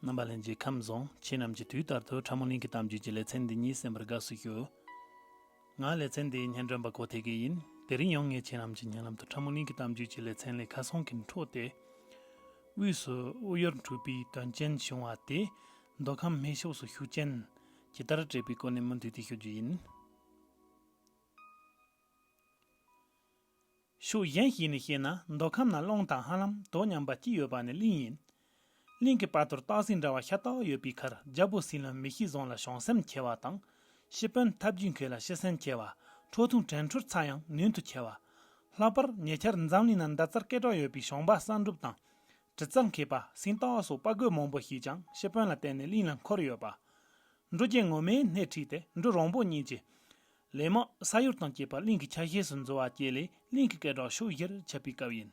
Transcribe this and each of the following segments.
རྣམ་པ་ལྷན་ཅིག་ཁམས་བཟང་ཁྱེད་རྣམས་ཀྱི་དུས་ལྟར་དུ་ཕྲ་མོ་གླིང་གི་གཏམ་རྒྱུད་ཀྱི་ལེ་ཚན་འདི་ཉིད་གསན་པར་དགའ་བསུ་ཞུ། ང་ལེ་ཚན་འདིའི་སྙན་སྒྲོན་པ་གོ་ཐེ་གི་ཡིན། དེ་རིང་ཡང་ངས་ཁྱེད་རྣམས་ཀྱི་སྙན་ལམ་དུ་ཕྲ་མོ་གླིང་གི་གཏམ་རྒྱུད་ཀྱི་ལེ་ཚན་ལས་ཁ་སང་གི་འཕྲོ་དེ། དབུས་སུ་དབུ་ཡོར་འཁྲུལ་པའི་དོན་རྐྱེན་བྱུང་བ་དེ་མདོ་ཁམས་སྨད་ཕྱོགས་སུ་ཤུགས་རྐྱེན་ཇི་ལྟར་སྤྲད་པའི་སྐོར་ནས་མུ་མཐུད་དེ་ཤོད་རྒྱུ་ཡིན། ཤུགས་གཞན་ཞིག་ནས་བཤད་ན་མདོ་ཁམས་ན་གླང་དང་ཧ་ལམ་དོ་མཉམ་པ་གཅིག་ཡོད་པ་ནི་གླིང་ཡིན། གླིང་གི་བར་དུར་སྟག་སིང་འདྲ་བ་ཤ་སྟག་ཡོད་པའི་ཁར་རྒྱལ་པོ་སྲིད་ལམ་མི་ཤི་བཟང་ལ་བྱང་སེམས་ཁྱེར་བ་དང། ཤི་དཔོན་ཐབས་རྒྱུས་མཁས་ལ་ཤི་སེམས་ཁྱེར་བ། ཁྲོ་ཐུང་བྲན་འཕྲུལ་ཚ་ཡང་ནུས་མཐུ་ཁྱེར་བ། ལྷག་པར་ཉེ་ཆར་འཛམ་གླིང་ན་མདའ་རྩར་སྐད་གྲགས་ཡོད་པའི་ཞང་པ་གསང་སྒྲུབ་དང། གྲི་རྩ་མཁས་པ་སིང་སྟག་སོགས་དཔའ་རྒོད་མང་པོ་ཞིག་ཀྱང་ཤི་དཔོན་ལ་བརྟེན་ནས་གླིང་ལ་འཁོར་ཡོད་པ། འབྲུ་རྒྱལ་ངོ་མས་སྣེ་ཁྲིད་དེ་འབྲུ་རོང་པོ་གཉིས་ཀྱིས། ལས་མ་ས་ཡོར་དང་བཅས་པ་གླིང་གི་ཆ་ཤས་སུ་འཛུལ་བ་བཅས་ལས་གླིང་གི་སྐད་གྲགས་ཕྱོགས་བཞིར་ཁྱབ་པའི་སྐབས་ཡིན།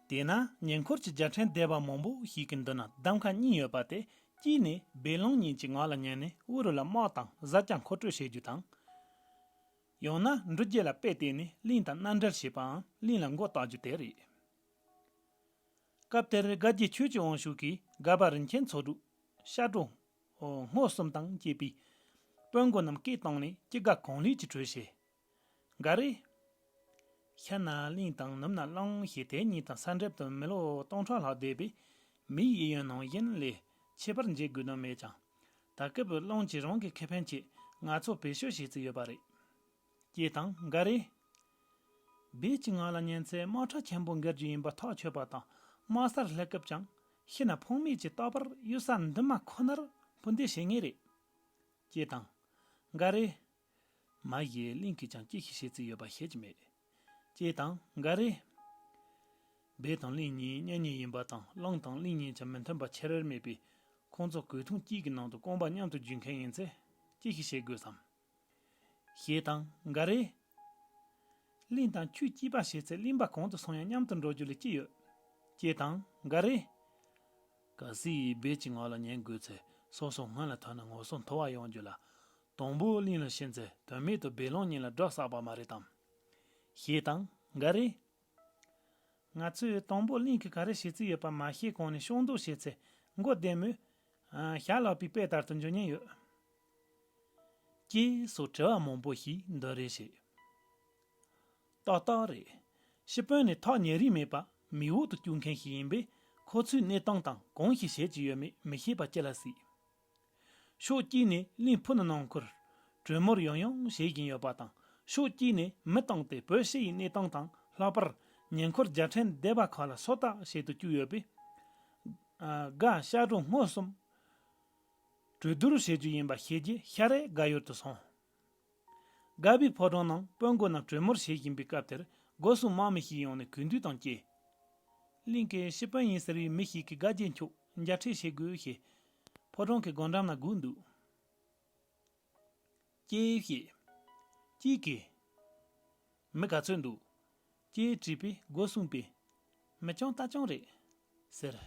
དེས་ན་ཉེ་འཁོར་གྱི་རྒྱལ་ཕྲན་སྡེ་བ་མང་པོ་ཞིག་གི་མདུན་ན་གདམ་ག་གཉིས་ཡོད་པ་དེ་གཅིག་ནི་སྦས་ལུང་གཉིས་ཀྱི་ངག་ལ་ཉན་ནས་དབུ་རུ་ལ་དམག་དང་གཟའ་བཅའ་མཁོ་སྤྲོད་བྱེད་རྒྱུ་དང། ཡང་ན་འབྲུ་བརྒྱད་ལ་དཔེ་བལྟས་ནས་གླིང་དང་མནའ་འབྲེལ་བྱེད་པའང་གླིང་ལ་མགོ་བཏགས་རྒྱུ་དེ་རེད། སྐབས་དེར་དགའ་བགྱིད་ཆོས་ཀྱི་དབང་ཕྱུག་གིས་དགའ་བ་རིན་ཆེན་ཚོགས་དྲུག། ཤ་དྲུག། སྔོ་གསུམ་དང་བཅས་པའི། དཔོན་དགོན་རྣམས་སྐད་བཏང་ནས་སྐྱེ་རྒ་གང་ལུས་ཀྱི་གྲོས་བྱས། འགའ་རེས། ཤ་སྣ་གླིང་དང་ནུབ་ན་གླང་ཞེས་དེ་གཉིས་དང་ས་འབྲེལ་དུ་མི་ལོ་སྟོང་ཕྲག་ལྷག་འདས་པས། མིའི་དབྱེ་ཡོན་ནང་བཞིན་ལས་ཆེ་བར་འབྱེད་དགོས་དོན་མེད་ཀྱང། ད་སྐབས་གླང་གིས་རང་གི་ཁེ་ཕན་ཆེད་ང་ཚོ་བེད་སྤྱོད་བྱེད་རྩིས་ཡོད་པ་རེད། སྐྱེས་དང་འགའ་རེས། སྦས་ཀྱི་ངང་ལ་ཉན་ཚེ་དམག་ཁྲ་ཆེན་པོ་འགེལ་རྒྱུ་ཡིན་པ་ཐག་ཆོད་པ་དང་དམག་སར་སླེབས་སྐབས་ཀྱང་ཤི་ན་ཕོངས་མེད་ཀྱི་རྟག་པར་གཡུལ་ས་འདི་མ་ཁོ་ནར་འཕུར་འདེད་བྱེད་ངེས་རེད། སྐྱེས་དང། འགའ་རེས། མ་གཞི་གླིང་གིས་ཀྱང་སྐྱེས་ཤི་བྱེད་རྩིས་ཡོད་པ་ཤེས་ཀྱི་མེད། སྐྱེས་དང་འགའ་རེས། སྦས་དང་གླིང་གཉིས་གཉེན་ཉེ་ཡིན་པ་དང་གླིང་དང་གླིང་གཉིས་ཀྱི་མི་མཐུན་པ་ཆེ་རེར་མེད་པས་ཁོང་ཚོ་གོས་ཐུང་གཅིག་གི་ནང་དུ་རྐང་པ་མཉམ་དུ་འཇུས་མཁན་ཡིན་ཚེ་སྐྱེས་ཤི་བྱེད་དགོས་སམ། ཞེས་དང། འགའ་རེས། གླིང་དང་ཆུའི་སྐྱིད་པ་བྱས་ཚེ་གླིང་པ་གང་དུ་སོང་ཡང་མཉམ་དུ་འགྲོ་རྒྱུ་ལས་ཅི་ཡོད། ཅེས་དང། འགའ་རེས། ག་སི་ཡིས་སྦས་ཀྱི་ངག་ལ་ཉན་དགོས་ཚེ་སོ་སོ་སྔོན་ལ་ཐོན་ན་ངོ་སོ་མཐོ་བ་ཡོང་རྒྱུ་ལ། དང་པོ་གླིང་ལ་ཕྱིན་ཚེ་དོན་མེད་དུ་སྦས་ལོང་ཉིན་ལ་སྒྲོག་བསགས་པ་མ་རེད་དམ། ཞེས་དང། འགའ་རེས། ང་ཚོས་དང་པོ་གླིང་གིས་ག་རེ་བྱེད་རྩིས་ཡོད་པ་མ་ཤེས་གོང་ནས་ཤོག་འདོགས་བྱས་ཚེ་མགོ་བདེ་མོད། ཞྭ་ལག་པའི་དཔེ་ལྟར་དུ་འཇོན་ཉེན་ཡོད། ཅེས་སོགས་དྲི་བ་མང་པོ་ཞིག་འདི་རེད་བྱས། ཏག་ཏག་རེད། ཤི་དཔོན་ནི་ཐག་ཉེ་རིང་མེད་པར་མིག་འོག་ཏུ་བསྐྱུར་མཁན་ཞིག་ཡིན་པས་ཁོ་ཚོའི་གནས་སྟངས་དང་གང་ཞིག་བྱེད་ཀྱི་ཡོད་མེད་མི་ཤེས་པ་ཅི་ལ་སྲིད། ཕྱོགས་གཅིག་ནས་གླིང་ཕུ་ནང་མཁུར་གྲོས་མོར་ཡང་ཡང་བྱེད་བཞིན་ཡོད་པ་དང་ཕྱོགས་གཅིག་ནས་མི་བཏང་སྟེ་བོད་ཕྱི་ཡི་གནས་སྟངས་དང་ལྷག་པར་ཉེ་འཁོར་རྒྱལ་ཕྲན་སྡེ་བ་ཁག་ལ་སོ་ལྟ་བྱེད་དུ་བཅུག་ཡོད་པས། དགའ་ཤར་གྲོང་སྔོ་གསུམ། གྲོས་བསྡུར་བྱེད་རྒྱུ་ཡིན་པ་ཤེས་རྗེས་ཤར་རེས་དགའ་ཡུལ་དུ་སོང། དགའ་བའི་ཕོ་བྲང་ནང་དཔོན་དགོན་རྣམས་གྲོས་མོལ་བྱེད་བཞིན་པའི་སྐབས་དེར་སྒོ་སྲུང་དམག་མི་ཞིག་ཡོང་ནས་གུས་འདུད་དང་བཅས། གླིང་གི་ཤི་དཔོན་ཡིན་ཟེར་བའི་མི་ཞིག་གིས་དགའ་རྒྱལ་མཆོག་མཇལ་འཕྲད་བྱེད་དགོས་ཞེས་ཕོ་བྲང་གི་སྒོ་འགྲམ་ན་སྒུག་འདུག། སྐྱེས་ཞེས། སྐྱིད་དགེ། མི་ག་ཚོད་འདུག། ཅེས་དྲིས་པས་སྒོ་བསྲུངས་པས། མི་ཅུང་ལྟ་ཅུང་རེད། ཟེར།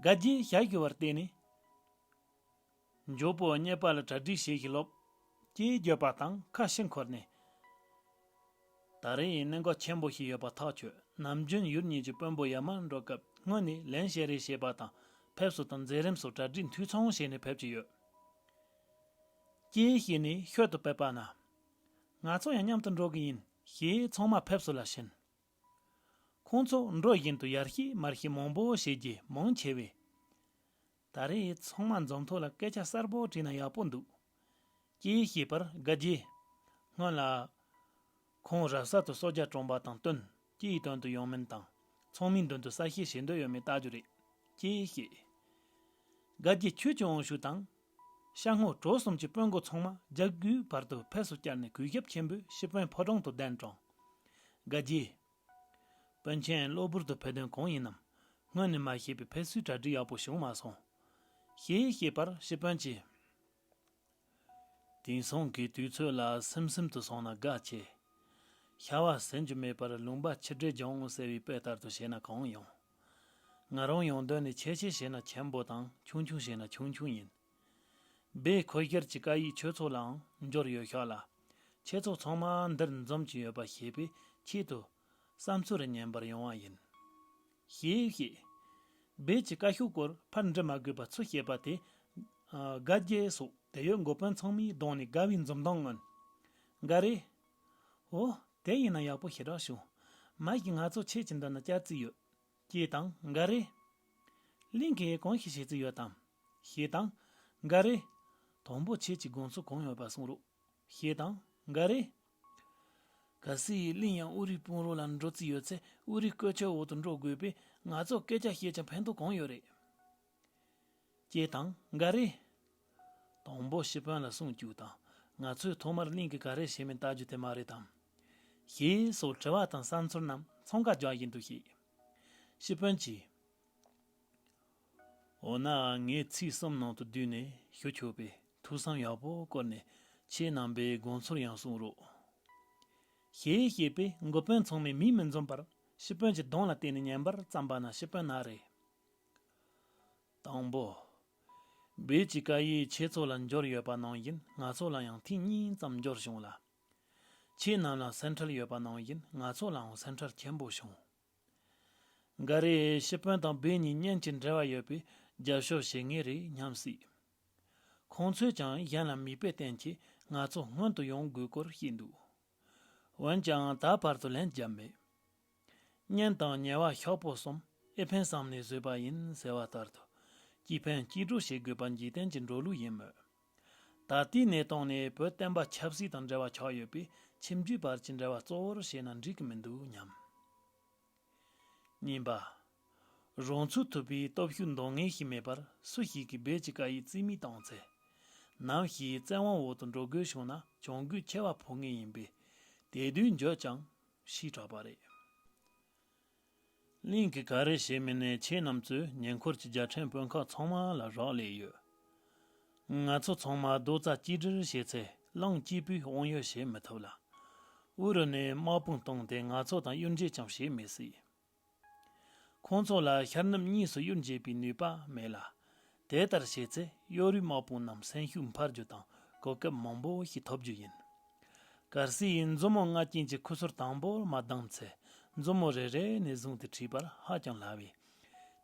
དགའ་བརྒྱའི་ཞྭ་བཞུར་བར་བལྟས་ནས། མགྱོགས་པོ་རྙེད་པ་ལ་གྲ་སྒྲིག་བྱེད་བཞིན་ལོབས། ཅེས་བརྗོད་པ་དང་ཁ་ཕྱིར་འཁོར་ནས། ད་རེས་ཡིན་གནད་འགག་ཆེན་པོ་ཞིག་ཡོད་པ་ཐག་ཆོད་ནམ་རྒྱུན་ཡུལ་གཉིས་ཀྱི་དཔོན་པོ་ཡར་མར་འགྲོ་སྐབས་སྔོན་ནས་ལན་བཤད་རེས་བྱེད་པ་དང་ཕེབས་བསུ་དང་མཛད་རིམ་སོགས་གྲ་སྒྲིག་འཐུས་ཚང་བྱས་ནས་ཕེབས་ཀྱི་ཡོད། ཀྱེ་ཞེས་ནི་ཤོད་དུ་བབས་པ་ན། ང་ཚོ་ཡང་མཉམ་དུ་འགྲོ་གི་ཡིན་ཞེས་ཚང་མ་ཕེབས་བསུ་ལ་ཕྱིན། ཁོང་ཚོ་འགྲོ་བཞིན་དུ་ཡར་ཤི་མར་ཤི་མང་པོ་བྱེད་རྒྱུ་མང་ཆེ་བས། ད་རེས་ཚང་མ་འཛོམས་ཐོག་ལ་སྐད་ཆ་གསར་པོ་དྲིས་ན་ཡག་པོ་འདུག་ཀྱེ་ཞེས་པར་དགའ་རྗེས་སྔོན་ལ། ཁོང་རབ་གསར་དུ་སོ་བརྒྱ་བཀྲོངས་པ་དང་བསྟུན་ཀྱིས་དོན་དུ་ཡོང་མིན་དང་ཚང་མའི་མདུན་དུ་གསལ་བཤད་བྱེད་འདོད་ཡོད་མེད་བལྟ་རྒྱུ་རེད་ཀྱེ་ཞེས། དགའ་རྗེས་ཁྱོད་ཀྱིས་དབང་ཤུགས་དང་ཤ་སྔོ་གྲོ་གསུམ་གྱི་དཔོན་འགོ་ཚང་མ་ལྗགས་རྒྱུའི་བར་དུ་ཕེབས་སུ་བསྐྱལ་ནས་གུས་ཞབས་ཆེན་པོས་ཤི་དཔོན་ཕོ་བྲང་དུ་གདན་དྲངས། དགའ་རྒྱས། དཔོན་ཆེན་གློ་བུར་དུ་ཕེབས་དོན་གང་ཡིན་ནམ། སྔོན་ནས་མ་ཤེས་པས་ཕེབས་བསུའི་གྲ་སྒྲིག་ཡག་པོ་བྱུང་མ་སོང། ཞེས་བཤད་པར་ཤི་དཔོན་གྱིས། དེང་སང་གི་དུས་ཚོད་ལ་སིམ་སིམ་དུ་སོང་ན་དགའ་ཆེ། ཤ་བ་ཟིན་རྒྱུ་མེད་པར་ལུང་པ་ཕྱི་དྲོས་སྦྱང་ངོ་ཟེར་བའི་དཔེ་ལྟར་དུ་བྱས་ན་གང་ཡོང། ང་རང་ཡོང་དོན་ནི་ཆེ་ཆེ་བྱས་ན་ཆེན་པོ་དང་ཆུང་ཆུང་བྱས་ན་ཆུང་ཆུང་ཡིན། སྦེ་ཁོས་སྒེར་གྱི་བཀའ་ཡིག་ཆོས་ཚོགས་ལའང་འབྱོར་ཡོད་ཤག་ལ། ཁྱེད་ཚོ་ཚང་མ་འདིར་འཛོམས་ཀྱི་ཡོད་པ་ཤེས་པའི་ཆེད་དུ། བསམ་ཚུལ་རེ་ཉན་པར་ཡོང་བ་ཡིན། ཞེས་བཤད། སྦེ་ཀྱིས་བཀའ་ཤོག་སྐོར་ཕར་འབྲི་མ་དགོས་པ་ཚུལ་བཤད་པ་དེས། དགའ་རྒྱལ་སོགས་དེ་ཡོད་འགོ་དཔོན་ཚང་མའི་གདོང་ནས་དགའ་བའི་འཛུམ་མདངས་མངོན། འགའ་རེས། འོ། དེ་ཡིན་ན་ཡག་པོ་ཞེ་དྲག་བྱུང། མ་གཞི་ང་ཚོ་ཁྱེད་ཀྱི་འདི་ན་བསྐྱལ་རྩིས་ཡོད། ཅེས་དང། འགའ་རེས། གླིང་གས་གང་ཞིག་བྱེད་རྩིས་ཡོད་དམ། ཞེས་དང། འགའ་རེས། དང་པོ་ཁྱེད་ཀྱི་དགོངས་ཚུལ་གང་ཡོད་པ་གསུང་རོགས། ཞེས་དང། འགའ་རེས། གལ་སྲིད་གླིང་ཡང་དབུས་རིགས་དཔུང་རོགས་ལ་འགྲོ་རྩིས་ཡོད་ཚེ་དབུས་རིགས་བཀོད་ཁྱབ་འོག་ཏུ་འགྲོ་དགོས་པས་ང་ཚོ་སྐད་ཆ་བཤད་ཀྱང་ཕན་ཐོག་གང་ཡོད་རེད། ཀྱེ་ཐང་འགའ་རེ། དང་པོ་ཤི་དཔོན་ལ་སྲུང་སྐྱོབ་དང་ང་ཚོས་ཐོག་མར་གླིང་གི་ག་རེ་བྱས་མིན་བལྟ་རྒྱུ་དེ་མ་རེད་དམ། ཞེས་སོགས་དྲི་བ་དང་བསམ་ཚུལ་རྣམས་ཚོང་ཁ་རྒྱག་བཞིན་དུ་བཤད། ཤི་དཔོན་གྱིས། འོ་ན་ངས་ཚིག་གསུམ་ནང་དུ་བསྡུས་ནས་ཞུ་ཆོག་པས་ཐུགས་བསམ་ཡག་པོ་བསྐོར་ནས་ཁྱེད་རྣམ་པའི་དགོངས་ཚུལ་ཡང་གསུང་རོགས། ཞེས་བཤད་པས་འགོ་དཔོན་ཚང་མས་མིག་མི་འཛུམས་པར་ཤི་དཔོན་གྱི་གདོང་ལ་བལྟས་ནས་ཉན་པར་བརྩམས་པ་ན་ཤི་དཔོན་ན་རེ། དང་པོ། བོད་ཀྱི་བཀའ་ཡིག་ཁྱེད་ཚོ་ལ་འབྱོར་ཡོད་པ་ནང་བཞིན་ང་ཚོ་ལ་ཡང་ཐེངས་གཉིས་ཙམ་འབྱོར་བྱུང་ལ། ཁྱེད་རྣམས་ལ་སེམས་ཁྲལ་ཡོད་པ་ནང་བཞིན་ང་ཚོ་ལའང་སེམས་ཁྲལ་ཆེན་པོ་བྱུང། འགའ་རེས་ཤི་དཔོན་དང་བོད་གཉིས་གཉེན་གྱི་འབྲེལ་བ་ཡོད་པས་རྒྱབ་ཤོར་བྱེད་ངེས་རེད་སྙམ་སྲིད། ཁོང་ཚོས་ཀྱང་གཞན་ལ་མིག་དཔེ་བསྟན་གྱིས་ང་ཚོ་སྔོན་དུ་ཡོང་དགོས་སྐོར་བཤད་འདུག་འོན་ཀྱང་ད་བར་དུ་ལན་བརྒྱབ་མེད། གཉེན་དང་ཉེ་བ་ཤོག་བུ་གསུམ་ཨེ་ཕན་བསམ་ནས་བཟོས་པ་ཡིན་ཟེར་བ་ལྟར་དུ། སྐྱིད་ཕན་སྐྱིད་གྲོགས་བྱེད་དགོས་པ་འཇིག་རྟེན་གྱི་འགྲོ་ལུགས་ཡིན་མོད། ད་ལྟའི་གནས་སྟངས་ནི་བོད་བསྟན་པ་ཆབ་སྲིད་དང་འབྲེལ་བ་ཆགས་ཡོད་པས་ཁྱིམ་རྒྱུད་བར་གྱི་འབྲེལ་བ་གཙོ་བོར་བྱས་ན་འགྲིག་གི་མི་འདུག་སྙམ། གཉིས་པ། རང་ཚུགས་ཐུབ་པའི་སྟོབས་ཤུགས་འདོན་ངེས་ཤིག་མེད་པར་སུ་ཞིག་གིས་རྦད་ཀྱི་བཀའ་ཡིས་རྩིས་མེད་བཏང་ཚེ། ནམ་ཞིག་བཙན་དབང་འོག་ཏུ་འགྲོ་དགོས་བྱུང་ན་གྱོང་གུད་ཆེ་བ་འཕོག་ངེས་ཡིན་པས། དེ་དུས་འགྱོད་ཀྱང་ཞེས་གྲགས་པ་རེད། གླིང་གི་ག་རེ་བྱེད་མི་ནས་ཁྱེད་རྣམས་ཚོས་ཉེ་འཁོར་གྱི་རྒྱལ་ཕྲན་དཔོན་ཁག་ཚང་མ་ལ་རག་ལས་ཡོད། ང་ཚོ་ཚང་མ་རྡོ་རྩ་གཅིག་སྒྲིལ་བྱས་ཚེ་གླང་སྐྱིད་པོས་དབང་ཡོད་བྱེད་མི་ཐུབ་ལ། དབུ་རུ་ནས་དམག་དཔུང་བཏང་སྟེ་ང་ཚོ་དང་གཡུལ་འགྱེད་ཀྱང་བྱེད་མི་སྲིད། ཁོང་ཚོ་ལ་ཤར་ནུབ་གཉིས་སུ་གཡུར་འགྱེད་པའི་ནུས་པ་མེད་ལ། དེ་ལྟར་བྱས་ཚེ་གཡོ་རུའི་དམག་དཔུང་རྣམས་སེམས་ཤུགས་འཕར་རྒྱུ་དང་གོ་སྐབས་མང་པོ་ཞིག་ཐོབ་རྒྱུ་ཡིན། གར་སི་ཡིས་མཛུབ་མོ་ལྔ་རྐྱེན་གྱི་ཁུ་ཚུར་དང་པོར་མ་བསྡམས་ཚེ་མཛུབ་མོ་རེ་རེ་ནས་བཟུང་སྟེ་བྲིས་པར་ཧ་ཅང་སླ་བས།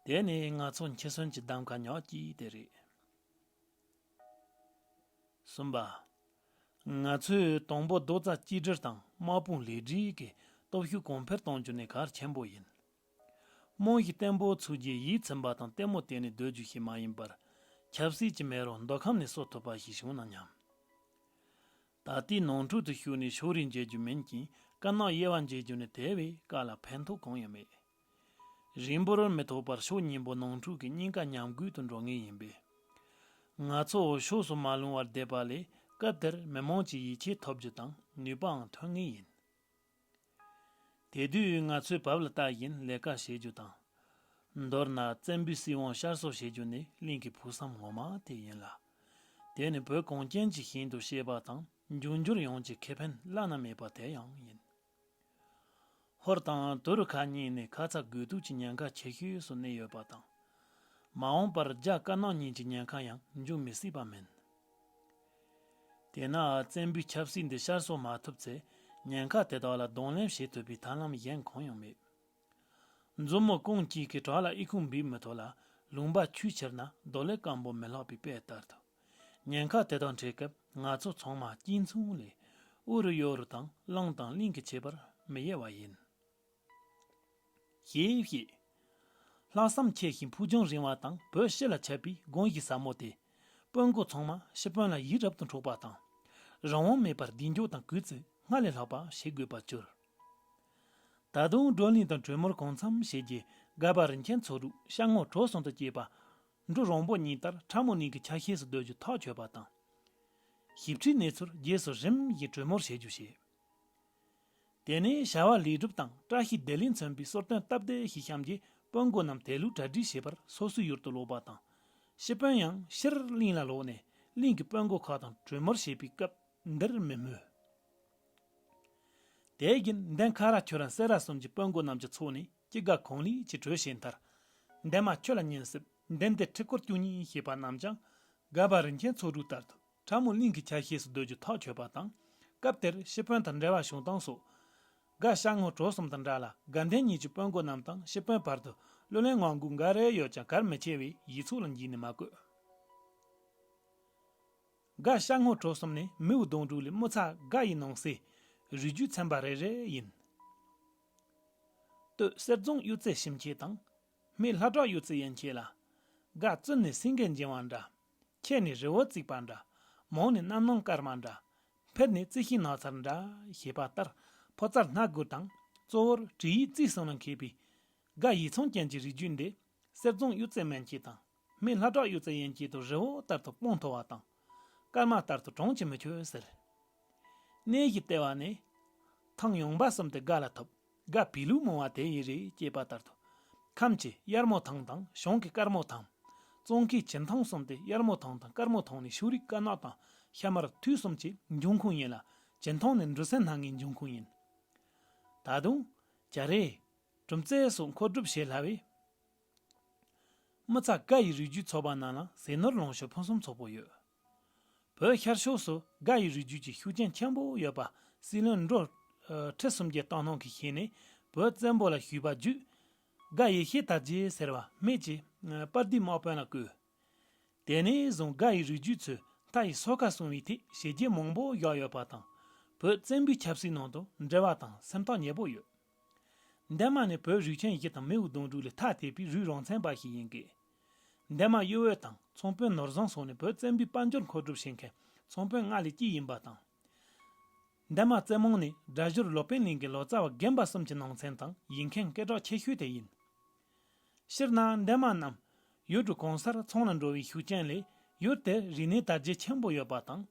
དེ་ནི་ང་ཚོ་འཆི་གསོན་གྱི་གདམ་ག་ཉག་ཅིག་དེ་རེད། གསུམ་པ། ང་ཚོས་དང་པོ་རྡོ་རྩ་གཅིག་སྒྲིལ་དང་དམག་དཔུང་ལེགས་སྒྲིག་གི་སྟོབས་ཤུགས་གོང་འཕེལ་གཏོང་རྒྱུ་ནི་གལ་ཆེན་པོ་ཡིན། རྨང་གཞི་བརྟན་པོ་ཚུགས་རྗེས་ཡིད་ཚིམ་པ་དང་ལྟད་མོ་བལྟས་ནས་སྡོད་རྒྱུ་ཞིག་མ་ཡིན་པར་ཆབ་སྲིད་ཀྱི་མེ་རོ་མདོ་ཁམས་ནས་གསོ་ཐུབ་པ་ཞིག་བྱུང་ན་སྙམ། ད་ལྟའི་ནང་འཁྲུག་ཏུ་ཞུགས་ནས་ཕྱོགས་རིས་འབྱེད་རྒྱུ་མིན་ཅིང་དཀར་ནག་དབྱེ་བ་འབྱེད་རྒྱུ་ནི་དེ་བས་དཀའ་ལ་ཕན་ཐོགས་གང་ཡང་མེད། རིང་པོར་མི་ཐོགས་པར་ཕྱོགས་གཉིས་པོ་ནང་འཁྲུག་གི་སྙིང་ཁ་ཉམས་རྒུད་དུ་འགྲོ་ངེས་ཡིན་པས། ང་ཚོ་འོས་ཤོག་སུ་མ་ལྷུང་བར་བསྡད་པ་ལས་སྐབས་དེར་མི་མང་གཅིག་ཡིད་ཆེས་ཐོབ་རྒྱུ་དང་ནུས་པའང་ཐོན་ངེས་ཡིན། དེ་དུས་ང་ཚོས་བབ་ལ་བལྟ་བཞིན་ལས་ཀ་བྱེད་རྒྱུ་དང། མདོར་ན་བཙན་པོའི་སྲིད་དབང་ཤར་གསོ་བྱེད་རྒྱུ་ནི་གླིང་གི་ཕུགས་བསམ་ངོ་མ་དེ་ཡིན་ལ། དེ་ནི་བོད་གངས་ཅན་གྱི་ཞིང་དུ་གཤེགས་པ་དང་འབྱུང་འགྱུར་ཡོངས་ཀྱི་ཁེ་ཕན་བླ་ན་མེད་པ་དེ་ཡང་ཡིན། ཧོར་དང་དུ་རུ་ཁ་གཉིས་ནི་ཁ་ཚ་དགོས་གཏུགས་ཀྱི་ཉེན་ཁ་ཆེ་ཤོས་སུ་གནས་ཡོད་པ་དང། མ་འོངས་པར་རྒྱ་དཀར་ནག་གཉིས་ཀྱི་ཉེན་ཁ་ཡང་འབྱུང་མི་སྲིད་པ་མིན། དེས་ན་བཙན་པོའི་ཆབ་སྲིད་འདི་ཤར་གསོ་མ་ཐུབ་ཚེ་ཉེན་ཁ་དེ་དག་ལ་གདོང་ལེན་བྱེད་ཐུབ་པའི་ཐབས་ལམ་གཞན་གང་ཡང་མེད། མཛུབ་མོ་རྐང་གཅིག་གིས་བྲག་ལ་ཨི་ཁུང་འབིགས་མི་ཐུབ་ལ་ལུང་པ་ཆུས་ཁྱེར་ན་རྡོ་ལས་སྐམ་པོ་མི་ལྷག་པའི་དཔེ་ལྟར་དུ། ཉེན་ཁ་དེ་དང་འཕྲད་སྐབས་ང་ཚོ་ཚང་མ་གཅིག་མཚུངས་ལས་དབུ་རུ་གཡོ་རུ་དང་བླངས་དང་བརླིང་གི་བྱེད་པར་མི་གཡེལ་བ་ཡིན། ཞེས་བཤད། ལྷག་བསམ་ཆེ་ཞིང་ཕུགས་རྒྱང་རིང་བ་དང་བོད་ཕྱི་ལ་ཁྱབ་པའི་དགོངས་གཞི་ཟབ་མོ་དེས་དཔོན་དགོན་ཚང་མ་ཤི་དཔོན་ལ་ཡིད་རབ་ཏུ་འཕྲོག་པ་དང། རང་དབང་མེད་པར་གདེང་འཇོག་དང་གུས་བརྩི་སྔར་ལས་ལྷག་པ་བྱེད་དགོས་པར་གྱུར། ད་དུང་བགྲོ་གླེང་དང་གྲོས་མོལ་གང་འཚམ་བྱས་རྗེས་སྒར་པ་རིན་ཆེན་མཚོ་གྲུ་ཤར་ངོགས་གྲོ་གསུང་དུ་སྐྱེས་པ། འབྲུ་རོང་པོ་གཉིས་ལྟར་ཕྲ་མོ་ནིང་གི་ཆ་ཤས་སུ་སྡོད་རྒྱུ་ཐག་ཆོད་པ་དང། ཞིབ་ཕྲའི་གནས་ཚུལ་རྗེས་སུ་རིམ་གྱིས་གྲོས་མོལ་བྱེད་རྒྱུ་བྱས། དེ་ནས་བྱ་བ་ལེགས་གྲུབ་དང་བཀྲ་ཤིས་བདེ་ལེགས་མཚོན་པའི་གསོལ་སྟོན་སྟབས་བདེ་ཞིག་བཤམས་རྗེས་དཔོན་དགོན་རྣམས་དད་ལུས་གྲ་སྒྲིག་བྱེད་པར་སོ་སོའི་ཡུལ་དུ་ལོག་པ་དང། ཤི་དཔོན་ཡང་ཕྱིར་གླིང་ལ་ལོག་ནས་གླིང་གི་དཔོན་དགོན་ཁག་དང་གྲོས་མོལ་བྱེད་པའི་སྐབས་འདིར་མི་སྨོས། དེའི་རྒྱུན་ལྡན་ཁ་རག་ཁྱོད་རང་སེ་རག་གསུམ་གྱི་དཔོན་དགོན་རྣམས་ཀྱི་ཚོགས་ནི་སྐྱི་དགའ་གོང་ལི་ཅི་གྲོས་བྱས་མཐར། འདན་མ་ཁྱོད་ལ་ཉིན་སྲིབ་འདན་ཏེ་ཁྲི་སྐོར་བཅུ་གཉིས་ཞེས་པ་རྣམས་ཀྱང་སྒ་བ་རིན་ཆེན་ཚོགས་དྲུག་ལྟར་དུ་ཁྲ་མོ་གླིང་གི་ཆ་ཤས་སུ་སྡོད་རྒྱུ་ཐག་ཆོད་པ་དང། སྐབས་དེར་ཤི་དཔོན་དང་འབྲེལ་བ་བྱུང་སྟངས་སོགས། སྒ་ཤ་སྔོ་བྲོ་གསུམ་དང་འདྲ་ལ་སྒ་འདན་གཉིས་ཀྱི་དཔོན་དགོན་རྣམས་དང་ཤི་དཔོན་བར་དུ་གླུ་ལེན་ངང་སྒུག་འགའ་རེ་ཡོད་ཀྱང་གར་མི་ཆེ་བས་ཡིག་ཚུགས་ལ་འགྱིང་ནས་མ་བཀོད། དགའ་ཤ་སྔོ་དྲོ་གསུམ་ནི་མིའུ་གདོང་དྲུག་ལས་དམུ་ཚ་དགའ་ཡི་ནང་གསེས་རུས་རྒྱུད་ཚན་པ་རེ་རེ་ཡིན། སྟོད་གསེར་རྫོང་གཡུ་རྩེ་ཞིམ་ཁྱེད་དང། སྨད་ལྷ་བྲག་གཡུ་རྩེ་ཡན་ཁྱེད་ལ། དགའ་བཙུན་ནི་སེང་གེ་འཇིང་བ་འདྲ། ཁྱེད་ནི་རི་བོ་བརྩིགས་པ་འདྲ། མོང་ནི་རྣམ་སྣང་སྐར་མ་འདྲ། འཕེལ་ནི་རྩི་ཤིང་ནགས་ཚལ་འདྲ་ཞེས་པ་ལྟར་ཕོ་རྩར་སྣ་དགུ་དང་གཙོ་བོར་གྲི་ཡིས་རྩིས་གསུམ་ལ་མཁས་པའི། དགའ་ཡི་ཚོང་ཅན་གྱི་རིགས་རྒྱུད་འདི་གསེར་རྫོང་གཡུ་རྩེ་སྨད་ཁྱེད་དང། མི་ལྷ་བྲག་གཡུ་རྩེ་ཡན་ཆད་དུ་རི་བོ་ལྟར་དུ་དཔུང་མཐོ་བ་དང། སྐར་མ་ལྟར་དུ་གྲོང་ཆེན་མི་ཁྱོད་ཟེར། གནས་གཞི་ལྟེ་བ་ནི། ཐང་ཡོངས་འབའ་གསུམ་སྟེ་སྒ་ལ་ཐོབ་སྒ་བི་ལུ་མོ་བ་དེ་ཡི་རི་སྐྱེས་པ་ལྟར་དུ། ཁམས་ཀྱི་དབྱར་མོ་ཐང་དང་གཞུང་གི་སྐར་མོ་ཐང། ཙོང་ཁའི་བྱེ་ཐང་གསུམ་སྟེ་དབྱར་མོ་ཐང་དང་སྐར་མོ་ཐང་ནི་ཕྱུགས་རིགས་དཀར་ནག་དང་ཤ་དམར་དུས་གསུམ་གྱི་འབྱུང་ཁུངས་ཡིན་ལ། བྱེ་ཐང་ནི་འབྲུ་སྲིན་སྣ་ལྔའི་འབྱུང་ཁུངས་ཡིན། ད་དུང། རྒྱ་རི། གྲུམ་རྩལ་སོགས་མཁོ་སྒྲུབ་བྱེད་སླ་བས། དམུ་ཚ་དགའ་ཡི་རིགས་རྒྱུད་ཚོ་པ་རྣམས་ལ་ཟས་ནོར་ལོངས་སྤྱོད་ཕུན་སུམ་ཚོགས་པོ་ཡོད། བོད་ཤར་ཕྱོགས་སུ་དགའ་ཡི་རིགས་རྒྱུད་ཀྱི་ཤུགས་རྐྱེན་ཆེན་པོ་ཡོད་པ་སྲིད་བློན་མདོ་ཁྲི་སུམ་བརྒྱའི་བཏང་སྣང་གིས་ཤེས་ནས་བོད་བཙན་པོ་ལ་ཞུས་པ་བརྒྱུད། དགའ་ཡེ་ཤེས་དར་རྒྱས་ཟེར་བ་སྨད་ཀྱི་དཔལ་སྡེའི་དམག་དཔོན་ལ་བསྐོས། དེ་ནས་བཟུང་དགའ་ཡི་རིགས་རྒྱུད་ཚོས་མཐའ་ཡི་སོ་ཁ་སྲུང་བའི་ཐད་བྱས་རྗེས་མང་པོ་བཞག་ཡོད་པ་དང་བོད་བཙན་པོའི་ཆབ་སྲིད་ནང་དུ་འབྲེལ་བ་དང་སེམས་ཐག་ཉེ་པོ་ཡོད། འདན་མ་ནི་བོད་རིགས་ཆེན་བཞི་དང་རྨེའུ་གདོང་དྲུག་ལས་ཐ་དད་པའི་རུས་རང་ཚན་པ་ཞིག་ཡིན་སྐད། འདན་མ་གཡོ་འོད་དང་ཚོང་དཔོན་ནོར་བཟང་སོགས་ནི་བོད་བཙན་པོའི་དཔལ་འབྱོར་མཁོ་སྒྲུབ་བྱེད་མཁན་ཚོང་དཔོན་ལྔ་ལས་གཅིག་ཡིན་པ་དང། འདན་མ་རྩེ་མོང་ནི་སྒྲ་བཞུར་ལོ་པཎ་གླིང་གི་ལོ་ཙཱ་བ་རྒན་པ་གསུམ་གྱི་ནང་ཚན་དང་ཡིག་མཁན་སྐད་གྲགས་ཆེ་ཤོས་དེ་ཡིན། སྤྱིར་ན་འདན་མ་རྣམས་ཡུལ་གྲུ་གང་སར་ཚོང་ལ་འགྲོ་བའི་ཤུགས་རྐྱེན་ལས་ཡུལ་དེར་རིག་གནས་དར་རྒྱས་ཆེན་པོ་ཡོད་པ་དང།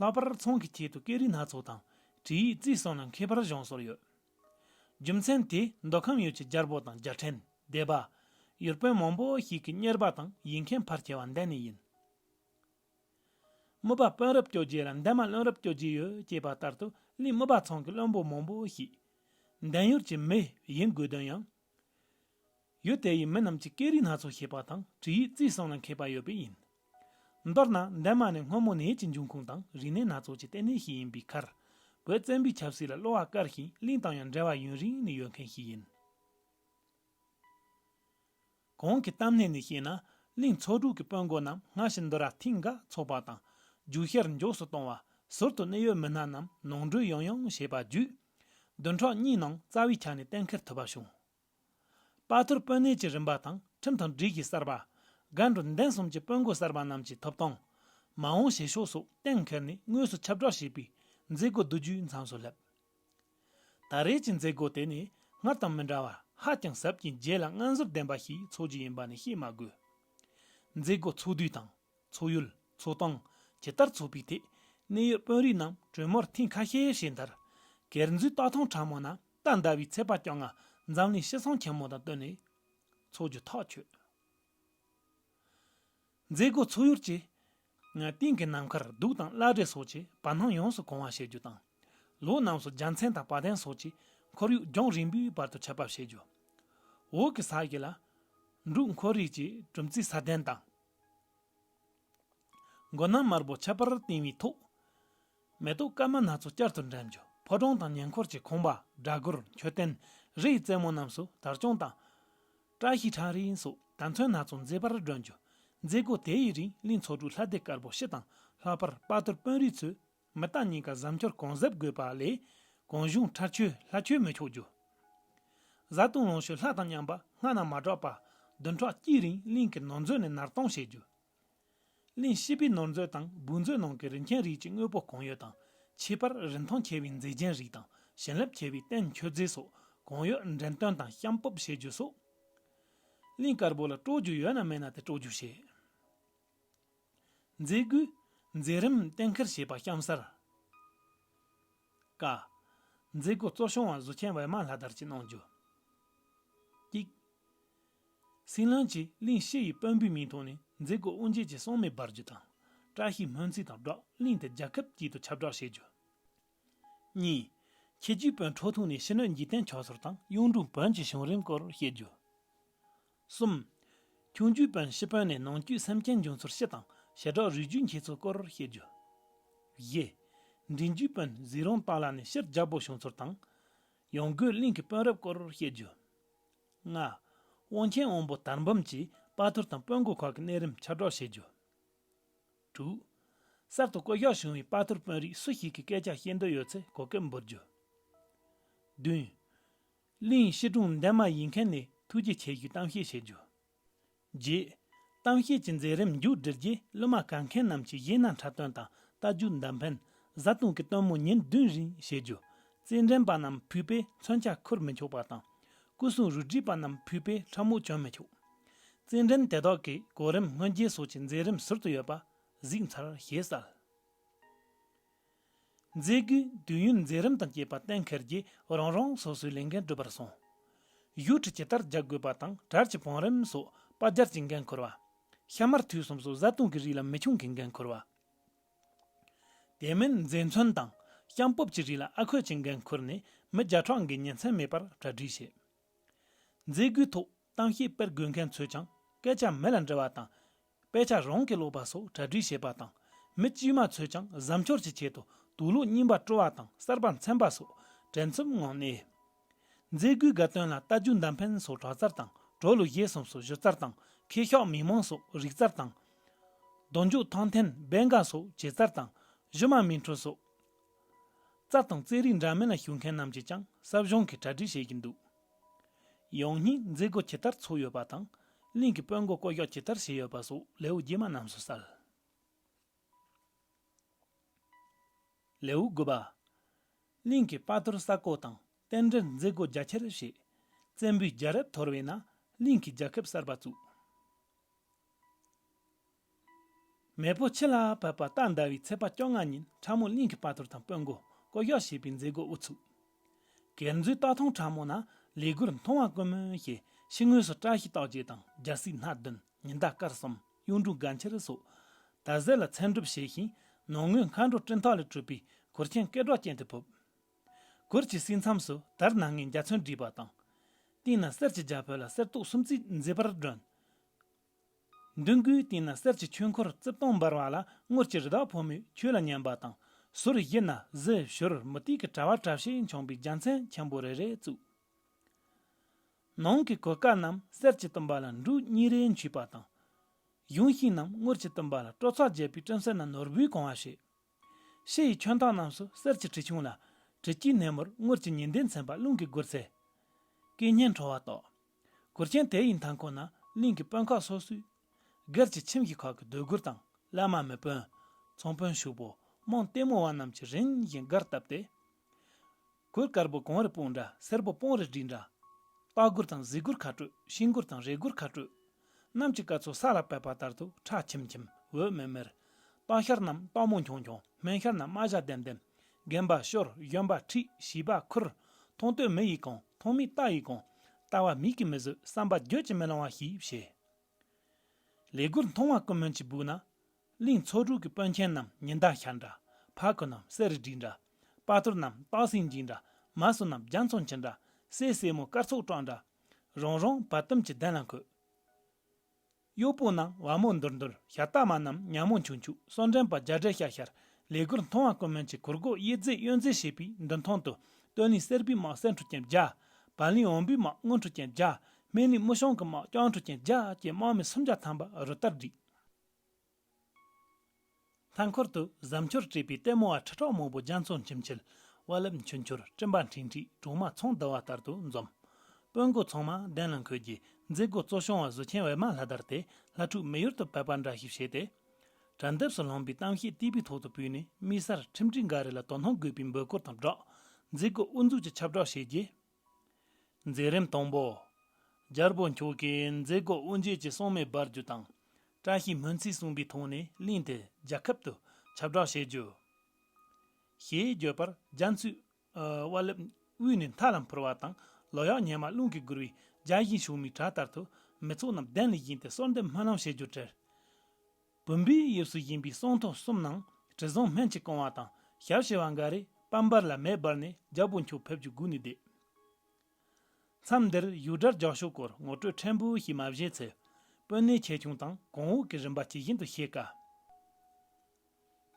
ལྷག་པར་ཚོང་གི་ཆེད་དུ་སྐད་རིགས་སྣ་ཚོགས་དང་བྲིས་ཡིག་རྩིས་སོགས་ནང་མཁས་པར་སྦྱངས་སྲོལ་ཡོད། རྒྱུ་མཚན་དེས་མདོ་ཁམས་ཡུལ་གྱི་རྒྱལ་པོ་དང་རྒྱལ་ཕྲན་སྡེ་པ། ཡུལ་དཔོན་མང་པོ་ཞིག་གི་གཉེར་པ་དང་ཡིག་མཁན་ཕར་སྐྱེལ་བ་འདི་ནས་ཡིན། རྨུ་བ་དཔོན་རབས་སྐྱོ་རྗེ་ལ་འདན་མ་བློན་རབས་སྐྱོ་རྗེ་ཡོད་ཅེས་པ་ལྟར་དུ་གླིང་རྨུ་བ་ཚང་གི་བློན་པོ་མང་པོ་ཞིག། འདན་ཡུལ་གྱི་མི་ཡིན་དགོས་དོན་ཡང་ཡུལ་དེ་ཡི་མི་རྣམས་ཀྱི་སྐད་རིགས་སྣ་ཚོགས་ཤེས་པ་དང་བྲིས་ཡིག་རྩིས་སོགས་ལ་མཁས་པ་ཡོད་པས་ཡིན། མདོར་ན་འདན་མ་ནི་སྔོན་མོ་ནས་ཀྱི་འབྱུང་ཁུངས་དང་རིག་གནས་སྣ་ཚོགས་ཀྱི་ལྟེ་གནས་ཤིག་ཡིན་པའི་ཁར། བོད་བཙན་པོའི་ཆབ་སྲིད་ལ་གློ་བ་དཀར་ཞིང་གླིང་དང་ཡང་འབྲེལ་བ་ཡུན་རིང་ནས་ཡོད་མཁན་ཞིག་ཡིན། གང་གི་གཏམ་སྣེ་ནས་བཤད་ན་གླིང་ཚོ་དྲུག་གི་དཔོན་དགོན་རྣམས་སྔ་ཕྱི་མདོ་ར་མཐིང་ག་འཚོགས་པ་དང་རྒྱུག་ཤར་མགྱོགས་སུ་གཏོང་བ་ཟུར་དུ་གནད་ཡོད་མི་སྣ་རྣམས་ནང་འགྲུལ་ཡང་ཡང་བྱེད་པ་བརྒྱུད། བདུན་ཕྲག་གཉིས་ནང་རྩ་བའི་ཆ་ནས་གཏན་འཁེལ་ཐུབ་པ་བྱུང། དཔའ་ཐུར་དཔོན་གནས་ཀྱི་རིམ་པ་དང་ཁྲིམས་དང་སྒྲིག་གཞི་གསར་པ། སྒར་འགྲོ་འདན་གསུམ་གྱི་དཔོན་དགོན་གསར་པ་རྣམས་ཀྱི་ཐོབ་ཐང། མ་འོངས་བྱེད་ཕྱོགས་སོགས་གཏན་འཁེལ་ནས་དངོས་སུ་ཁྱབ་བསྒྲགས་བྱས་པའི་མཛད་སྒོ་བསྡུ་རྒྱུའི་མཚམས་སུ་སླེབས། ད་རེས་ཀྱི་མཛད་སྒོ་དེ་ནི་སྔར་དང་མི་འདྲ་བར་ཧ་ཅང་ཟབ་ཅིང་རྒྱས་ལ་སྔ་འཛོར་ལྡན་པ་ཞིག་འཚོགས་རྒྱུ་ཡིན་པ་ནི་བཤད་མ་དགོས། མཛད་སྒོ་ཚོགས་དུས་དང། འཚོགས་ཡུལ། འཚོགས་སྟངས། ཇི་ལྟར་འཚོགས་པའི་ཐད་གནས་ཡོད་དཔོན་རིགས་རྣམས་གྲོས་མོལ་ཐེངས་ཁ་ཤས་བྱས་མཐར། སྒེར་འཛུལ་རྟ་ཐང་ཕྲ་མོ་ན་རྟ་འདར་བའི་ཚད་པ་བསྐྱངས་ང་འཛམ་གླིང་ཤི་གསོན་ཆེན་མོ་དང་བསྟུན་ནས་འཚོགས་རྒྱུ་ཐག་ཆོད། མཛད་སྒོ་འཚོགས་ཡུལ་བཅས་ང་སྟེང་གི་ནམ་མཁར་གདུགས་དང་བླ་བྲེ་སོགས་ཀྱིས་བར་སྣང་ཡོངས་སུ་གང་བ་བྱེད་རྒྱུ་དང། ལོ་རྣམས་སུ་རྒྱལ་མཚན་དང་བ་དན་སོགས་ཀྱིས་འཁོར་ཡུག་རྒྱང་རིང་པོའི་བར་དུ་ཁྱབ་པར་བྱེད་རྒྱུ། འོག་གི་ས་གཞི་ལ། འབྲུག་འཁོར་རིགས་ཀྱི་གྲུམ་ཙེ་ས་གདན་དང། མགོ་ནག་དམར་པོ་ཁྱད་པར་བཏིང་བའི་ཐུགས། མེ་ཏོག་དཀར་དམར་སྣ་ཚོགས་བསྐྱར་དུ་འགྲེམས། ཕོ་བྲང་དང་ཉེ་འཁོར་གྱི་ཁང་པ་སྦྲ་གུར་མཆོད་རྟེན་རི་ཡི་རྩེ་མོ་རྣམས་སུ་དར་གཅོང་དང། བཀྲ་ཤིས་ཁྲ་རིང་སོགས་དར་མཚོན་སྣ་ཚོགས་མཛེས་པར་བསྒྲོན། མཛད་སྒོ་དེ་ཡི་རིང་ལི་མཚོ་གྲུ་ལྷ་སྡེ་དཀར་པོ་ཕྱི་དང་ལྷག་པར་དཔའ་རྟུལ་དཔོན་རིགས་ཚོས་མི་རྟ་གཉིས་ཀ་གཟབ་འཁྱོར་གང་གཟབ་དགོས་པ་ལས་གང་གཞུང་ཁྲར་ཆོས་ལྷ་ཆོས་མི་ཆོག་རྒྱུ། བཟའ་བཏུང་ལོངས་སྤྱོད་ལྷ་དང་མཉམ་པ་སྔ་ན་མ་གྲགས་པ་བདུན་ཕྲག་གཅིག་རིང་གླིང་གི་ནོར་མཛོད་ནས་ནར་གཏོང་བྱེད་རྒྱུ། གླིང་ཕྱི་པའི་ནོར་མཛོད་དང་སྦུག་མཛོད་ནང་གི་རིན་ཆེན་རིགས་ཀྱི་དངོས་པོ་གང་ཡོད་དང་ཕྱི་པར་རིན་ཐང་ཆེ་བའི་མཛེས་རྒྱན་རིགས་དང་བྱིན་རླབས་ཆེ་བའི་རྟེན་མཆོད་རྫས་སོགས་གང་ཡོད་འགྲེམས་སྟོན་དང་བཤམས་སྤོབས་བྱེད་རྒྱུ་སོགས། གླིང་དཀར་པོ་ལ་སྤྲོ་རྒྱུ་ཡོད་ན་མེད་ན་དེ་སྤྲོ་རྒྱུ་བྱེད། མཛད་སྒོའི་མཛད་རིམ་གཏན་འཁེལ་བྱས་པ་གཤམ་གསལ། ཀ། མཛད་སྒོ་གཙོ་སྐྱོང་བ་གཟུགས་ཆེན་ཝེར་མ་ལྷ་དར་གྱིས་གནང་རྒྱུ། གཅིག། སྲིན་བློན་གྱིས་གླིང་བཞི་ཡི་དཔོན་པོའི་མིང་ཐོག་ནས་མཛད་སྒོའི་དབུ་འབྱེད་ཀྱི་གསང་མི་སྦར་རྒྱུ་དང་བཀྲ་ཤིས་སྨོན་ཚིག་དང་སྦྲགས་གླིང་དེ་རྒྱལ་ཁབ་དཀྱིལ་དུ་ཁྱབ་བསྒྲགས་བྱེད་རྒྱུ། གཉིས། ཁྱེད་རྒྱུའི་དཔོན་འཕྲོ་ཐུག་ནས་ཕྱི་སྣོད་འཇིག་རྟེན་མཆོག་ཟུར་དང་གཡུང་དྲུང་བོན་གྱི་བྱུང་རིམ་སྐོར་བཤད་རྒྱུ། གསུམ། ཁྱུང་རྒྱུད་དཔོན་ཤི་དཔོན་ནས་ནང་རྒྱུད་སེམས་ཅན་འབྱུང་ཚུལ་ཤེས་དང་ཞལ་གྲགས་རུས་རྒྱུད་འཁྱིལ་ཚུལ་སྐོར་བཤད་རྒྱུ། བཞི། འབྲིང་རྒྱུད་དཔོན་གཟིགས་རོང་སྟག་ལ་ནས་ཕྱིར་རྒྱལ་པོ་བྱུང་ཚུལ་དང། ཡང་སྒོས་གླིང་གི་དཔོན་རབས་སྐོར་བཤད་རྒྱུ། ལྔ། དབང་ཆེན་དབོན་པོ་དར་འབུམ་གྱིས་དཔའ་ཐུལ་དང་དཔོན་དགོན་ཁག་གི་གནས་རིམ་ཁྱབ་བསྒྲགས་བྱེད་རྒྱུ། དྲུག། གསར་དུ་བསྐོ་གཞག་བྱུང་བའི་དཔའ་ཐུལ་དཔོན་རིགས་སུ་ཞིག་གི་སྐད་ཆ་བཤད་འདོད་ཡོད་ཚེ་གོ་སྐབས་འབུལ་རྒྱུ། བདུན། གླིང་བཤད་སྒྲུང་འདན་མ་ཡིན་མཁན་ནས་ཐུགས་རྗེ་ཆེ་ཞུས་གཏམ་བཤད་བྱེད་རྒྱུ། རྗེས། གཏམ་བཤད་ཀྱི་མཛད་རིམ་མཇུག་བསྒྲིལ་རྗེས་གླུ་མ་གར་མཁན་རྣམས་ཀྱིས་གཞས་སྣ་འཁྲབ་སྟོན་དང་རྟ་རྒྱུག་མདའ་འཕེན། བཟའ་བཏུང་གི་སྟོན་མོ་ཉིན་བདུན་རིང་བྱེད་རྒྱུ། རྩེད་འགྲན་པ་རྣམས་བུས་པས་མཚོན་ཆ་འཁུར་མི་ཆོག་པ་དང། སྐུ་སྲུང་རུ་སྒྲིག་པ་རྣམས་བུས་པས་ཁྲབ་མོ་གྱོན་མི་ཆོག། རྩེད་འགྲན་དེ་དག་གི་གོ་རིམ་སྔོན་རྗེས་སོགས་ཀྱི་མཛད་རིམ་ཟུར་དུ་ཡོད་པ་གཟིགས་མཚར་ཞེས་གསལ། མཛད་སྒོའི་དུས་ཡུན་མཛད་རིམ་དང་བཅས་པ་གཏན་འཁེལ་གྱིས་རང་རང་སོ་སོའི་ལས་འགན་སྒྲུབ་པར་སོང། བཞུགས་ཁྲི་ཇི་ལྟར་རྒྱག་དགོས་པ་དང་གྲལ་གྱི་བང་རིམ་སོགས་པ་སྦྱར་གྱི་འགན་འཁུར་བ། ཤ་མར་དུས་གསུམ་སོགས་བཟའ་བཏུང་གི་རིགས་ལ་མི་ཆུང་གི་འགན་འཁུར་བ། དེ་མིན་མཛེས་མཚོན་དང་བྱང་སྤོབས་ཀྱི་རིགས་ལ་ཨ་ཁོས་ཀྱི་འགན་འཁུར་ནས་མི་བརྒྱ་ཕྲག་འགའི་ཉིན་མཚན་མེད་པར་གྲ་སྒྲིག་བྱས། མཛད་སྒོའི་ཐོག་གཏམ་བཤད་དཔེར་དགོད་མཁན་ཚོས་ཀྱང་སྐད་ཆ་མི་ལ་འདྲི་བ་དང། དཔེ་ཆ་རང་གིས་ཀློག་པ་སོགས་གྲ་སྒྲིག་བྱེད་པ་དང། མི་དཀྱུས་མ་ཚོས་ཀྱང་གཟབ་མཆོར་གྱི་ཆེད་དུ་དུག་ལུག་རྙིང་པ་དཀྲོལ་བ་དང་གསར་པ་འཚེམ་པ་སོགས་བྲེལ་འཚུབ་ངང་གནས། མཛད་སྒོའི་དགའ་སྟོན་ལ་རྟ་རྒྱུག་མདའ་འཕེན་སོགས་དྲག་རྩར་དང་དྲོ་ལུགས་བཞེས་གསུམ་སོགས་གཞི་རྩར་དང་ཁེ་ཤོག་མི་མང་སོགས་རིག་རྩར་དང། གདོན་འཇོག་ཐང་འཐེན་སྦལ་འགག་སོགས་བྱེད་རྩར་དང་གཞི་མ་མི་འཁྲུལ་སོགས། རྩ་དང་རྩེད་རིགས་འདྲ་མིན་ལ་ཞུགས་མཁན་རྣམས་ཀྱིས་ཀྱང་གསབ་གཞུང་གིས་གྲ་སྒྲིག་བྱེད་ཀྱི་འདུག། ཡང་སྙིང་མཛེས་སྒོ་ཇི་ལྟར་ཚུགས་ཡོད་པ་དང་གླིང་གི་དཔོན་སྒོ་བསྐོ་གཞག་ཇི་ལྟར་བྱས་ཡོད་པ་སོགས་ལེའུ་རྗེས་མ་རྣམས་སུ་གསལ། ལེའུ་དགུ་པ། གླིང་གི་དཔའ་ཐུལ་ས་བརྐོ་དང་རྟེན་འབྲེལ་མཛེས་སྒོ་རྒྱ་ཆེར་བྱས། བཙན་པོའི་རྒྱལ་རབས་དོར་བས་ན་གླིང་གི་རྒྱལ་ཁབ་གསར་པ་བཙུགས། མེས་པོ་ཆེ་ལ་བབས་པ་སྟག་ཟླ་བའི་ཚེས་པ་བཅོ་ལྔ་ཉིན་ཁྲ་མོ་གླིང་གི་དཔའ་ཐུར་དང་དཔོན་མགོ་བསྐོ་གཞག་བྱས་པའི་མཛད་སྒོ་དབུ་ཚུགས། གྱེར་མཛོད་སྟག་ཐུང་ཁྲ་མོ་ན་ལས་སྒོར་མཐོང་བ་དཀོན་མོ་ཞེས་ཕྱི་ངོས་སུ་བཀྲ་ཤིས་རྟགས་བརྒྱད་དང་རྒྱལ་སྲིད་སྣ་བདུན་ཉི་ཟླ་སྐར་གསུམ་གཡུང་དྲུང་དགའ་འཁྱིལ་སོགས་དར་ཟས་ལ་མཚན་སྒྲུབ་བྱས་ཤིང་ནང་ངོས་མཁའ་འགྲོ་སྤྲིན་ཐག་ལས་སྤྲུལ་པའི་གུར་ཆེན་སྐེ་སྒྲོག་ཅན་དེ་ཕུབ། གུར་གྱི་སྲིད་མཚམས་སུ་དར་སྣ་ལྔའི་འཇའ་ཚོན་བྲིས་པ་དང། སྟེང་ན་གསེར་གྱི་རྒྱ་ཕོད་ལ་གསེར་ཏོག་སུམ་བརྩེགས་མཛེས་པར་བསྒྲོན། མདུན་སྒོའི་སྟེང་ན་གསེར་གྱི་ཆོས་འཁོར་རྩིབས་སྟོང་འབར་བ་ལ་དངུལ་གྱི་རི་དྭགས་ཕོ་མོས་ཁྱོད་ལ་མཉན་པ་དང། ཟུར་བཞི་ན་གཟི་བྱུར་མུ་ཏིག་གི་དྲ་བ་བཀྲ་ཤིས་འཁྱོངས་པའི་རྒྱལ་མཚན་ཆེན་པོ་རེ་རེ་བཙུགས། ནང་གི་གོས་དཀར་རྣམས་གསེར་གྱིས་བཏུམས་པ་ལ་འབྲུག་གཉིས་རེ་འཁྱུད་པ་དང། གཞུང་ཤིང་རྣམས་དངུལ་གྱིས་བཏུམས་པ་ལ་སྤྲོ་ཚགས་རྒྱས་པའི་སྤྲིན་གསེར་ན་ནོར་བུའི་གང་བ་བྱས། ཤེལ་ཡི་ཁྱོན་ཐང་རྣམས་སུ་གསེར་གྱི་དྲི་ཕྱུང་ལ། དྲི་དཀྱིལ་ནེམ་མོར་དངུལ་གྱི་ཉི་ཟླའི་མཚན་པ་རླུང་གིས་བསྒུལ་ཚེ། སྐད་སྙན་འཕྲོ་བ་རྟོགས། གུར་ཆེན་དེ་ཡི་མཐའ་འཁོར་ན་གླིང་གི་དཔོན་ཁག་སོ་སོའི། སྒེར་གྱི་ཁྱིམ་གྱི་ཁག་གི་འདོད་རྒུར་དང་བླ་མ་མི་དཔོན། ཚོང་དཔོན་ཕྱུག་པོ་རྨོངས་ལྟད་མོ་བ་རྣམས་ཀྱིས་རིམ་བཞིན་སྒར་བཏབ་སྟེ། གོས་དཀར་པོ་གངས་རི་སྤུངས་འདྲ་སེར་པོ་སྤོང་རི་སྦྲིད་འདྲ། ལྤགས་གུར་དང་གཟིག་གུར་ཁ་སྤྲོད་ཤིང་གུར་དང་རས་གུར་ཁ་སྤྲོད། གནམ་གྱི་སྐར་ཚོགས་ས་ལ་བབས་པ་ལྟར་དུ་ཁྲ་ཁྱིམ་ཁྱིམ་འོད་མེར་མེར། སྟག་ཤར་རྣམས་སྟག་མོ་འཁྱོང་འཁྱོང་སྨན་ཤར་རྣམས་རྨ་བྱ་ལྡེམ་ལྡེམ། རྒན་པ་ཤོར་གཞོན་པ་ཁྲིད་བྱིས་པ་ཁུར། མཐོང་ཐོས་མི་ཡི་གང་མཐོང་མི་རྟག་ཡི་གང་རྟག་བ་མིག་གིས་མི་བཟོད་བསམ་པ་བརྗོད་ཀྱིས་མི་ལང་བ་ཞིག་བྱེད། ལས་གུར་མཐོང་བ་ཀུན་སྨོན་གྱིས་སྦུག་ན། གླིང་ཚོགས་དྲུག་གི་དཔོན་ཆེན་རྣམས་ཉི་ཟླ་ཤར་འདྲ། ཕག་གི་རྣམས་གསེར་རི་བྲིས་འདྲ། དཔའ་ཐུར་རྣམས་སྟག་སེང་འཇིགས་འདྲ། མ་སྲུ་རྣམས་རྒྱ་མཚོ་འཁྱིལ་འདྲ། སྲས་སྲས་མོ་སྐར་ཚོགས་བཀྲག་འདྲ། རང་རང་བ་དུམ་གྱི་གདན་ལ་འཁོད། གཡོག་པོ་རྣམས་བ་མོ་འདུར་འདུར་ཤ་སྟག་མ་རྣམས་མྱག་མོ་འཁྱུག་འཁྱུག་སོ་འདྲེན་པ་རྒྱ་བྲལ་ཤར་ཤར་ལས་གུར་མཐོང་བ་ཀུན་མོན་གྱི་གུར་སྒོ་དབྱེ་རྫས་གཡོན་རྫས་ཞེས་པའི་མདུན་ཐང་དུ་སྟོད་གླིང་གསེར་པའི་དམག་གསེར་འཕྲུ་ཅན་བརྒྱ། བར་གླིང་འོམ་བུའི་དམག་དངུལ་འཕྲུ་ཅན་བརྒྱ། སྨད་གླིང་དམུ་ཞང་གི་དམག་རྐྱང་འཕྲུ་ཅན་བརྒྱ་བཅས་དམག་མི་སུམ་བརྒྱ་ཐམ་པ་རུ་སྟར་བསྒྲིགས། མཐའ་འཁོར་དུ་གཟབ་འཕྱོར་བྲིས་པའི་ལྟད་མོ་བ་ཁྲི་ཕྲག་མང་པོ་རྒྱ་མཚོ་འཁྱིལ་འཁྱིལ་དབའ་རླབས་འཕྱུར་འཕྱུར་སྤྲིན་པ་འཁྲིགས་འཁྲིགས་གྲོག་མ་ཚོང་བསྡུ་བ་ལྟར་དུ་འཛོམས། དཔོན་དགུ་ཚང་མ་གདན་ལ་འཁོད་རྗེས་མཛད་སྒོ་གཙོ་སྐྱོང་བ་གཟུ་ཆེན་ཝེར་མ་ལྷ་དར་དེ་ལྷ་ཕྲུག་མི་ཡུལ་དུ་ཕེབས་པ་འདྲ་ཞིག་བྱས་ཏེ། དྲ་འདེབས་སུ་ལྷུང་པའི་གཏམ་བཤད་སྟེགས་བུའི་ཐོག་ཏུ་བུད་ནས་དམིགས་བསལ་ཁྲིམས་སྒྲིག་འགའ་རེ་ལ་དོ་སྣང་དགོས་པའི་འབོད་སྐུལ་དང་སྦྲགས། མཛད་སྒོ་དབུ་འཛུགས་ཀྱི་ཁྱབ་བསྒྲགས་བྱས་རྗེས། མཛད་རིམ་དང་པོ། རྒྱལ་པོ་མཆོག་གིས་མཛད་སྒོ་དབུ་འབྱེད་ཀྱི་གསང་མེ་སྦར་རྒྱུ་དང། བཀྲ་ཤིས་སྨོན་ཚིག་གསུངས་པའི་ཐོག་ནས་གླིང་དེ་རྒྱལ་ཁབ་ཏུ་ཁྱབ་བསྒྲགས་བྱེད་རྒྱུ། ཞེས་བརྗོད་པར་རྒྱ་མཚོས་དབའ་ལེབ་དབུས་ནས་མཐའ་ལ་འཕུར་བ་དང་ལོ་གཡག་ཉལ་མ་རླུང་གིས་བསྒུལ་བའི་རྒྱ་གཞིན་ཕྱུག་མོའི་གྲལ་ལྟར་དུ་མི་ཚོགས་རྣམས་གདན་ལས་བཞེངས་ཏེ་གསོལ་འདེབས་སྨོན་ལམ་བྱེད་རྒྱུར་བྲེལ། བུམ་པའི་དབྱིབས་སུ་བཞེངས་པའི་སྲུང་ཐོ་གསུམ་ནང་དྲི་བཟང་སྨན་གྱི་རྐང་བ་དང་ཞབས་བྱེ་བ་འགའ་རེ་པད་འབར་ལ་མེ་སྦར་ནས་རྒྱལ་པོ་འཁྱུག་ཕེབས་ཀྱི་སྒོ་ནས་བསྡད། མཚམས་འདིར་ཡུལ་དགྲར་རྒྱག་ཕྱོགས་སྐོར་ངོ་སྤྲོད་ཕྲན་བུ་ཞིག་མ་བཞེས་ཚེ་དཔོན་གནས་ཆེ་ཆུང་དང་གོང་འོག་གི་རིམ་པ་ཇི་བཞིན་དུ་བཤད་དཀའ།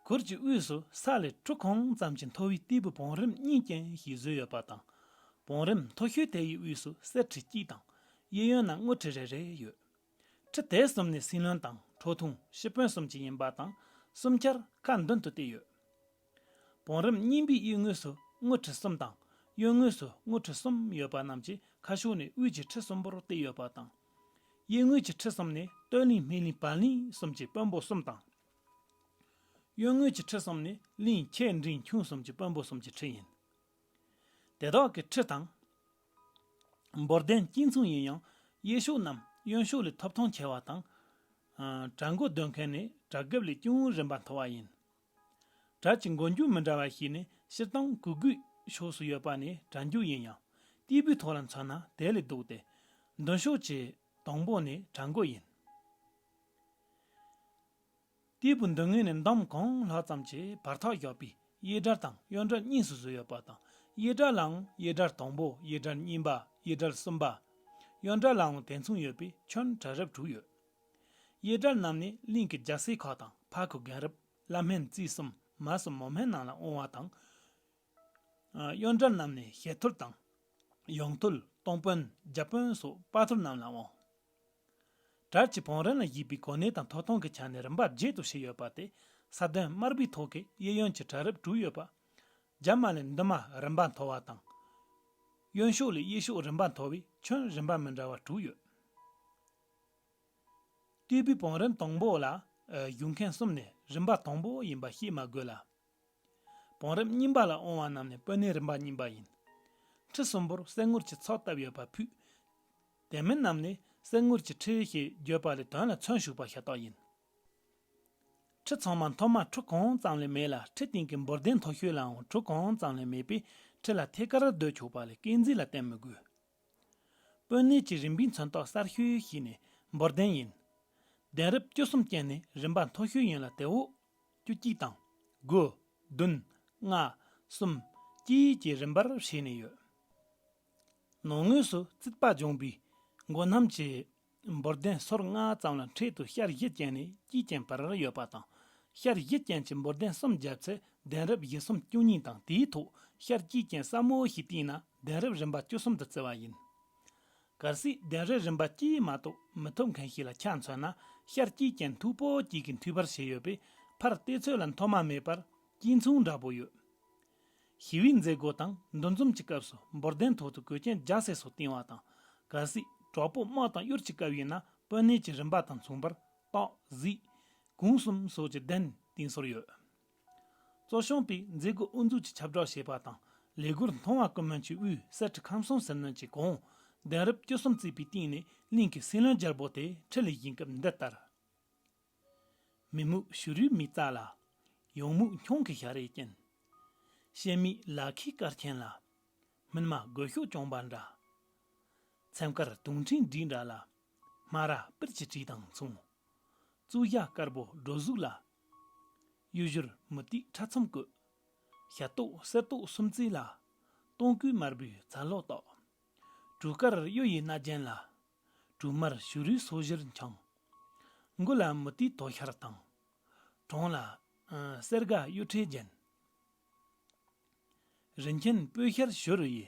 གུར་གྱི་དབུས་སུ་ས་ལས་ཁྲུ་གང་ཙམ་གྱི་མཐོ་བའི་སྟེགས་བུ་བང་རིམ་གཉིས་ཅན་ཞིག་བཟོས་ཡོད་པ་དང། བང་རིམ་མཐོ་ཤོས་དེ་ཡི་དབུས་སུ་གསེར་ཁྲི་གཅིག་དང་གཡས་གཡོན་ན་དངུལ་ཁྲི་རེ་རེ་ཡོད། ཁྲི་དེ་གསུམ་ནི་སྲིན་བློན་དང་ཁྲོ་ཐུང་ཤི་དཔོན་གསུམ་གྱི་ཡིན་པ་དང་གསུམ་ཆར་དཀར་མདུན་དུ་བཏེགས་ཡོད། བང་རིམ་རྙིང་པའི་གཡས་ངོས་སུ་དངུལ་ཁྲི་གསུམ་དང་གཡོན་ངོས་སུ་དངུལ་ཁྲི་གསུམ་ཡོད་པ་རྣམས་ཀྱི་ཁ་ཤོ་ནི་དབུས་ཀྱི་ཁྲི་གསུམ་པོར་བཏེགས་ཡོད་པ་དང། གཡས་ངོས་ཀྱི་ཁྲི་གསུམ་ནི་སྟོད་གླིང་སྨད་གླིང་བར་གླིང་གསུམ་གྱི་དཔོན་པོ་གསུམ་དང། གཡོན་ངོས་ཀྱི་ཁྲི་གསུམ་ནི་གླིང་ཁྱེད་འབྲིང་ཁྱུང་གསུམ་གྱི་དཔོན་པོ་གསུམ་གྱི་ཁྲི་ཡིན། དེ་དག་གི་ཁྲི་དང། འབོར་ལྡན་སྐྱིད་མཚུངས་ཡིན་ཡང་གཡས་ཕྱོགས་རྣམས་གཡོན་ཕྱོགས་ལས་ཐོབ་ཐང་ཆེ་བ་དང། གྲྭ་མགོ་འདོན་མཁན་ནི་གྲྭ་སྒེབ་ལས་ཅུང་རིམ་པ་མཐོ་བ་ཡིན། གྲྭ་གྱི་མགོ་མཇུག་མི་འདྲ་བ་ཞིག་ནི་སྤྱིར་བཏང་གུ་གུལ་ཕྱོགས་སུ་ཡོད་པ་ནི་གྲྭ་མཇུག་ཡིན་ཡང་སྟེགས་བུའི་ཐོག་ལ་མཚོན་ན་དེ་ལས་སྡུག་སྟེ། མདུན་ཕྱོགས་ཀྱི་དང་པོ་ནི་གྲྭ་མགོ་ཡིན། སྟེགས་བུ་མདུན་ངོས་ནས་འདམ་གང་ལྷག་ཙམ་གྱིས་བར་ཐག་བཞག་པའི་གཡས་དགྲར་དང་གཡོན་དགྲར་གཉིས་སུ་བཟོས་ཡོད་པ་དང་གཡས་དགྲ་ལའང་གཡས་དགྲར་དང་པོ་གཡས་དགྲར་གཉིས་པ་གཡས་དགྲར་གསུམ་པ། གཡོན་དགྲ་ལའང་དེ་མཚུངས་ཡོད་པས་ཁྱོན་གྲལ་རབ་དྲུག་ཡོད། གཡས་དགྲ་རྣམས་ནི་གླིང་གི་རྒྱལ་སྲས་ཁག་དང་ཕག་གི་རྒན་རབས་བླ་སྨན་རྩིས་གསུམ་མ་སྲུ་མོ་སྨན་རྣམས་ལ་དབང་བ་དང། གཡོན་དགྲ་རྣམས་ནི་ཞལ་ཐུར་དང། གཡོན་ཐུར་སྟོང་དཔོན་རྒྱ་དཔོན་སོགས་དཔའ་ཐུར་རྣམས་ལ་དབང། གྲྭར་གྱི་བང་རིམ་ལ་གཞིགས་པའི་གོ་གནས་དང་ཐོབ་ཐང་གི་ཆ་ནས་རིམ་པ་བརྒྱད་དུ་ཕྱེ་ཡོད་པ་སྟེ་ས་བདུན་དམར་པོའི་ཐོག་གི་གཡས་གཡོན་གྱི་གྲལ་རིམ་དྲུག་ཡོད་པ། རྒྱབ་མ་ལས་མདུན་མ་རིམ་པ་མཐོ་བ་དང། གཡོན་ཕྱོགས་ལས་གཡས་ཕྱོགས་རིམ་པ་མཐོ་བའི་ཁྱོན་རིམ་པ་མི་འདྲ་བ་དྲུག་ཡོད། སྟེགས་བུའི་བང་རིམ་དང་པོ་ལ་གཞུག་མཁན་གསུམ་ནས་རིམ་པ་དང་པོ་ཡིན་པ་ཤེས་མ་དགོས་ལ། བང་རིམ་རྙིང་པ་ལ་འོང་བ་རྣམས་ནི་སྤོས་སྣའི་རིམ་པ་རྙིང་པ་ཡིན། ཁྲི་གསུམ་པོར་གསེར་ངུར་གྱི་ཚོགས་བཏབ་ཡོད་པ་ཕུད། དེ་མིན་རྣམས་ནི་གསེར་ངུར་གྱི་ཁྲི་ཞེས་བརྗོད་པ་ལས་དོན་ལ་མཚོན་ཞུགས་པ་ཤ་སྟག་ཡིན། ཁྲི་ཚང་མ་མཐོ་དམའ་ཁྲུ་གང་ཙམ་ལས་མེད་ལ་ཁྲི་སྟེང་གི་འབོར་ལྡན་མཐོ་ཤོས་ལའང་ཁྲུ་གང་ཙམ་ལས་མེད་པས་ཁྲི་ལ་ཐད་ཀར་ཟློས་ཆོག་པ་ལས་སྐས་འཛེགས་ལ་བརྟེན་མི་དགོས། སྤོས་སྣའི་ཀྱི་རིམ་པའི་མཚོན་རྟགས་གསར་ཤོས་ཤིག་ནི་འབོར་ལྡན་ཡིན། གདན་རབས་བཅུ་གསུམ་ཅན་ནི་རིམ་པ་མཐོ་ཤོས་ཡིན་ལ་དེ་འོག་བཅུ་གཅིག་དང། དགུ། བདུན། ལྔ། གསུམ། གཅིག་གི་རིམ་པར་བྱས་ནས་ཡོད། ནང་ངོས་སུ་རྩིག་པ་སྦྱོང་པའི་མགོ་རྣམ་གྱི་འབོར་ལྡན་སོར་ལྔ་ཙམ་ལ་འཕྲེད་དུ་ཤར་བཞི་ཅན་ནས་དཀྱིལ་ཅན་བར་ཡོད་པ་དང། ཤར་བཞི་ཅན་གྱི་འབོར་ལྡན་གསུམ་བརྒྱབ་ཚེ་གདན་རབས་བཞི་གསུམ་བཅུ་གཉིས་དང་དེའི་ཐོག་ཤར་དཀྱིལ་ཅན་སྲབ་མོ་ཞིག་བཏིང་ན་གདན་རབས་རིམ་པ་བཅུ་གསུམ་དུ་བརྩི་བ་ཡིན། གར་སྲིད་གདན་རའི་རིམ་པ་གཅིག་མ་གཏོགས་མི་ཐོབ་མཁན་ཞིག་ལ་ཆ་མཚོན་ན་ཤར་སྐྱིད་ཅན་མཐུག་པོ་གཅིག་གི་མཐུད་པར་བྱས་ཡོད་པས་ཕར་བལྟས་ཚོད་ལ་མཐོ་དམའ་མེད་པར་གཅིག་མཚུངས་འདྲ་པོ་ཡོད། ཞི་བའི་མཛད་སྒོ་དང་འདུ་འཛོམས་ཀྱི་སྐབས་སུ་འབོར་གདན་ཐོག་ཏུ་གོས་ཆེན་རྒྱ་སེ་སོགས་བཏིང་བ་དང། གལ་སྲིད་གྲོགས་པོ་དམག་དང་གཡུར་གྱི་སྐབས་ཡིན་ན་དཔོན་གནས་ཀྱི་རིམ་པ་དང་མཚུངས་པར་སྟག། གཟིག། གུང་གསུམ་སོགས་ཀྱི་གདན་བཏིང་སྲོལ་ཡོད། གཙོ་སྐྱོང་པས་མཛད་སྒོ་དབུ་འཛུགས་ཀྱི་ཁྱབ་བསྒྲགས་བྱས་པ་དང་ལས་སྒོར་མཐོང་བ་ཀུན་སྨོན་གྱི་དབུས་གསེར་ཁྲི་ཁམས་གསུམ་ཟིལ་གནོན་གྱི་དགོངས་གདན་རབས་བཅུ་གསུམ་བརྩིས་པའི་སྟེང་ནས་གླིང་གི་སྲིད་བློན་རྒྱལ་པོ་དེ་ཁྲི་ལས་བཞེངས་སྐབས་འདི་ལྟར། མི་རྨུག་བྱུ་རུའི་མི་རྩ་ལ། ཡོངས་རྨུག་འཁྱོངས་ཀྱི་ཞག་རས་ཅན། གཤེད་མའི་ལ་ཁའི་སྐར་ཆེན་ལ། སྨིན་མ་རྒོད་ཤོག་གྱོང་པ་འདྲ། ཚེམས་དཀར་དུང་ཕྲེང་བསྒྲིགས་འདྲ་ལ། སྨ་ར་པིར་གྱི་བྲིས་དང་མཚུངས། གཙུག་བཞག་དཀར་པོ་སྒྲོ་གཟུགས་ལ། གཡུ་བཞུར་མུ་ཏིག་ཕྲ་ཚོམ་བཀོད། ཞབས་ཏོག་གསེར་ཏོག་སུམ་རྩེན་ལ། སྟོང་སྐུད་དམར་པོའི་ཛྭ་ལོགས་ཏོག། གྲུ་དཀར་གཡུ་ཡི་རྣ་རྒྱན་ལ། གྲུ་དམར་བྱུ་རུའི་སོ་བཞིར་འཕྱང། མགོ་ལ་མུ་ཏིག་དོ་ཤལ་དང། གྲོང་ལ། གསེར་སྒ་གཡུ་ཁྲི་རྒྱན། རིན་ཆེན་སྤོས་ཤེལ་བྱུ་རུ་ཡི།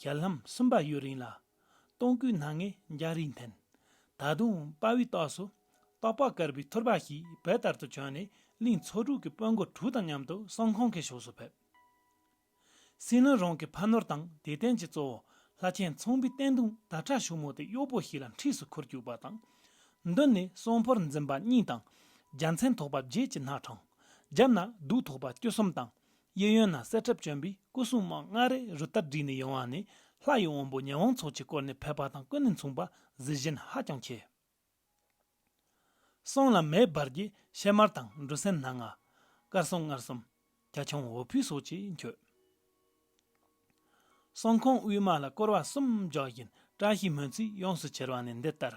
ཞལ་ལྷམ་གསུམ་པ་གཡོ་རིང་ལ། སྟོང་སྐུའི་སྣ་ལྔའི་འཇའ་རིས་འཐེན། ད་དུང་དཔའ་བོའི་ཏོག་སུ། ཏོག་དཔའ་དཀར་པོའི་ཐུར་པ་ཞིག་བལ་ལྟར་དུ་བྱོན་ནས་གླིང་ཚོ་དྲུག་གི་དཔོན་དགོན་དྲུག་དང་མཉམ་དུ་གསང་ཁང་གི་ཕྱོགས་སུ་ཕེབས། སྲིན་ལོ་རང་གི་ཕ་ནོར་དང་དད་རྟེན་གྱི་གཙོ་བོ་ལྷ་ཆེན་ཚོང་པའི་བསྟན་དུང་ད་ཕྲ་ཞུ་མོ་དེ་གཡོག་པོ་ཞིག་ལ་འཁྲིས་སུ་ཁུར་བཅུག་པ་དང། མདུན་ནས་གསོང་ཕོར་འཛིན་པ་གཉིས་དང། རྒྱལ་མཚན་ཐོགས་པ་བརྒྱད་ཀྱི་སྣ་གྲངས། རྒྱབ་ན་གདུགས་ཐོགས་པ་བཅུ་གསུམ་དང། གཡས་གཡོན་ན་གསེར་ཁྲབ་གྱོན་པའི་སྐུ་སྲུང་དམག་ལྔ་རེ་རུ་སྟར་སྒྲིག་ནས་ཡོང་བ་ནི་ལྷ་ཡི་དབོན་པོ་ཉི་ཧོང་ཚོགས་ཀྱིས་བསྐོར་ནས་ཕེབས་པ་དང་ཀུན་ནས་མཚུངས་པར་གཟི་བྱིན་ཧ་ཅང་ཆེ། གསང་ལ་མེ་འབར་གྱི་ཕྱེ་དམར་དང་འབྲུ་སྲན་སྣ་ལྔ། དཀར་གསུམ་མངར་གསུམ། གྱ་ཁྱུང་འོ་ཕུད་སོགས་ཀྱིས་མཆོད། གསང་ཁང་དབུས་མ་ལ་སྐོར་བ་གསུམ་རྒྱག་བཞིན་བཀྲ་ཤིས་སྨོན་ཚིག་ཡོངས་སུ་གྱེར་བ་ནི་འདི་ལྟར།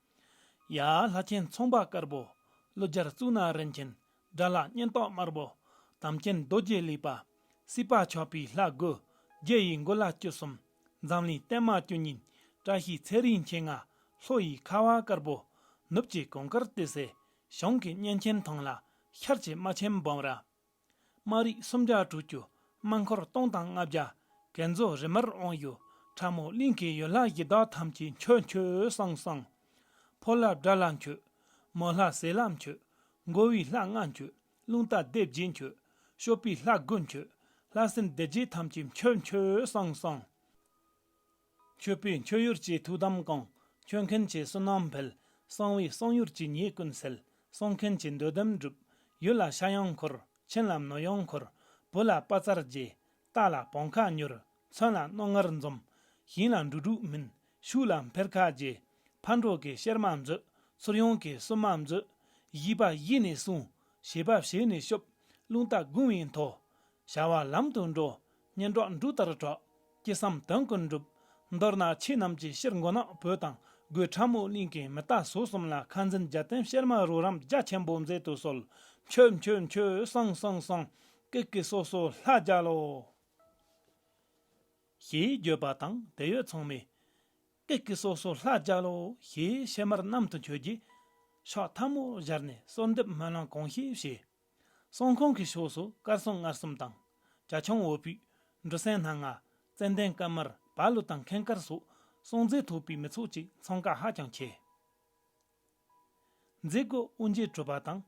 ཡ། ལྷ་ཆེན་ཚོང་པ་དཀར་པོ་ཀླུ་རྒྱལ་གཙུག་ན་རིན་ཆེན་དགྲ་ལ་གཉེན་རྟོག་དམར་པོ་དམ་ཅན་རྡོ་རྗེ་ལེགས་པ་སྲིད་པ་མཆོད་པའི་ལྷ། དགུ་རྒྱལ་ཡི་མགོ་ལ་བཅུ་གསུམ་འཛམ་གླིང་བརྟན་མ་བཅུ་གཉིས་བཀྲ་ཤིས་ཚེ་རིང་མཁྱེན་ལྔ་ལྷོ་ཡི་ཁ་བ་དཀར་པོ་ནུབ་ཀྱི་གོང་དཀར་ཏི་སེ་གཞུང་གི་གཉན་ཆེན་ཐང་ལ་ཤར་གྱི་རྨ་ཆེན་འབུམ་ར། དམངས་རིགས་སུམ་བརྒྱ་དྲུག་ཅུ་དམངས་འཁོར་སྟོང་དང་ལྔ་བརྒྱ་གན་རྫོགས་རི་མར་དབང་ཡོད་ཁྲ་མོ་གླིང་གི་ཡུལ་ལྷ་ཡི་དྭགས་ཐམས་ཅད་མཆོད་མཆོད་བསང་བསང། ཕོ་ལྷ་དགྲ་ལྷ་མཆོད། མོ་ལྷ་ཟེ་ལྷ་མཆོད། མགོ་བོའི་ལྷ་ལྔ་མཆོད། རླུང་རྟ་སྡེ་བརྒྱད་མཆོད། ཤོ་པའི་ལྷ་དགུ་མཆོད། ལྷ་སྲིན་སྡེ་བརྒྱད་ཐམས་ཅད་མཆོད་མཆོད་བསང་བསང། མཆོད་པས་མཆོད་ཡུར་གྱི་ཐུགས་དམ་བསྐང། མཆོད་མཁན་གྱི་བསོད་ནམས་འཕེལ། གསང་བའི་གསང་ཡུར་གྱི་ཉེས་ཀུན་སེལ། གསོང་མཁན་གྱི་འདོད་དོན་འགྲུབ། ཡུལ་ལ་ཤ་ཡང་འཁོར། ཕྱིན་ལ་མི་ཡང་འཁོར། བུ་ལ་དཔའ་རྩལ་རྒྱས། རྟ་ལ་བང་ཁ་མྱུར། མཚོན་ལ་རྣོ་ངར་འཛོམ། ཞིང་ལ་འབྲུ་དྲུག་སྨིན། ཕྱུགས་ལ་འཕེལ་ཁ་རྒྱས། ཕར་འགྲོ་གི་གཤེར་མ་མཛོད། ཚུར་ཡོང་གི་སུན་མ་མཛོད། བཞི་པ་གཞི་ནས་སྲུང། བྱེད་པ་བྱས་ནས་སྐྱོབ། རླུང་རྟ་དགུང་བས་མཐོ། བྱ་བ་ལམ་དུ་འགྲོ། སྙན་སྒྲོགས་འབྲུག་ལྟར་སྒྲོགས། ཅི་བསམ་དོན་ཀུན་འགྲུབ། མདོར་ན་ཁྱེད་རྣམས་ཀྱི་ཕྱིར་མགོ་ནག་བོད་དང་སྒོས་ཁྲ་མོ་གླིང་གི་མི་རྟ་ཟུར་གསུམ་ལ་ཁ་འཛིན་རྒྱལ་བསྟན་བཤེར་མ་རུ་རམ་རྒྱ་ཆེན་པོ་མཛད་དུ་གསོལ། མཆོད་མཆོད་མཆོད་བསང་བསང་བསང། ཀི་ཀི་སོ་སོ་ལྷ་རྒྱལ་ལོ། ཞེས་བརྗོད་པ་དང་དད་ཡོད་ཚང་མས། ཀི་ཀི་སོ་སོ་ལྷ་རྒྱལ་ལོ་ཞེས་ཕྱེ་མར་གནམ་དུ་འཁྱོལ་རྗེས། ཕྱག་ཐབ་མོ་སྦྱར་ནས་གསོལ་འདེབས་སྨོན་ལམ་གང་ཤེས་བྱས། གསུང་ཁང་གི་ཕྱོགས་སུ་དཀར་སྲུང་མངར་གསུམ་དང། རྒྱ་ཁྱོང་འོད་པུས། འབྲུ་སྲན་སྣ་ལྔ། ཙནྡན་དཀར་དམར་བ་ལུ་དང་མཁན་དཀར་སོགས་སྲུང་མཛད་ཐུབ་པའི་མི་ཚོགས་ཀྱི་འཚང་ཀ་ཧ་ཅང་ཆེ། མཛད་སྒོ་དབུ་འབྱེད་གྲུབ་པ་དང་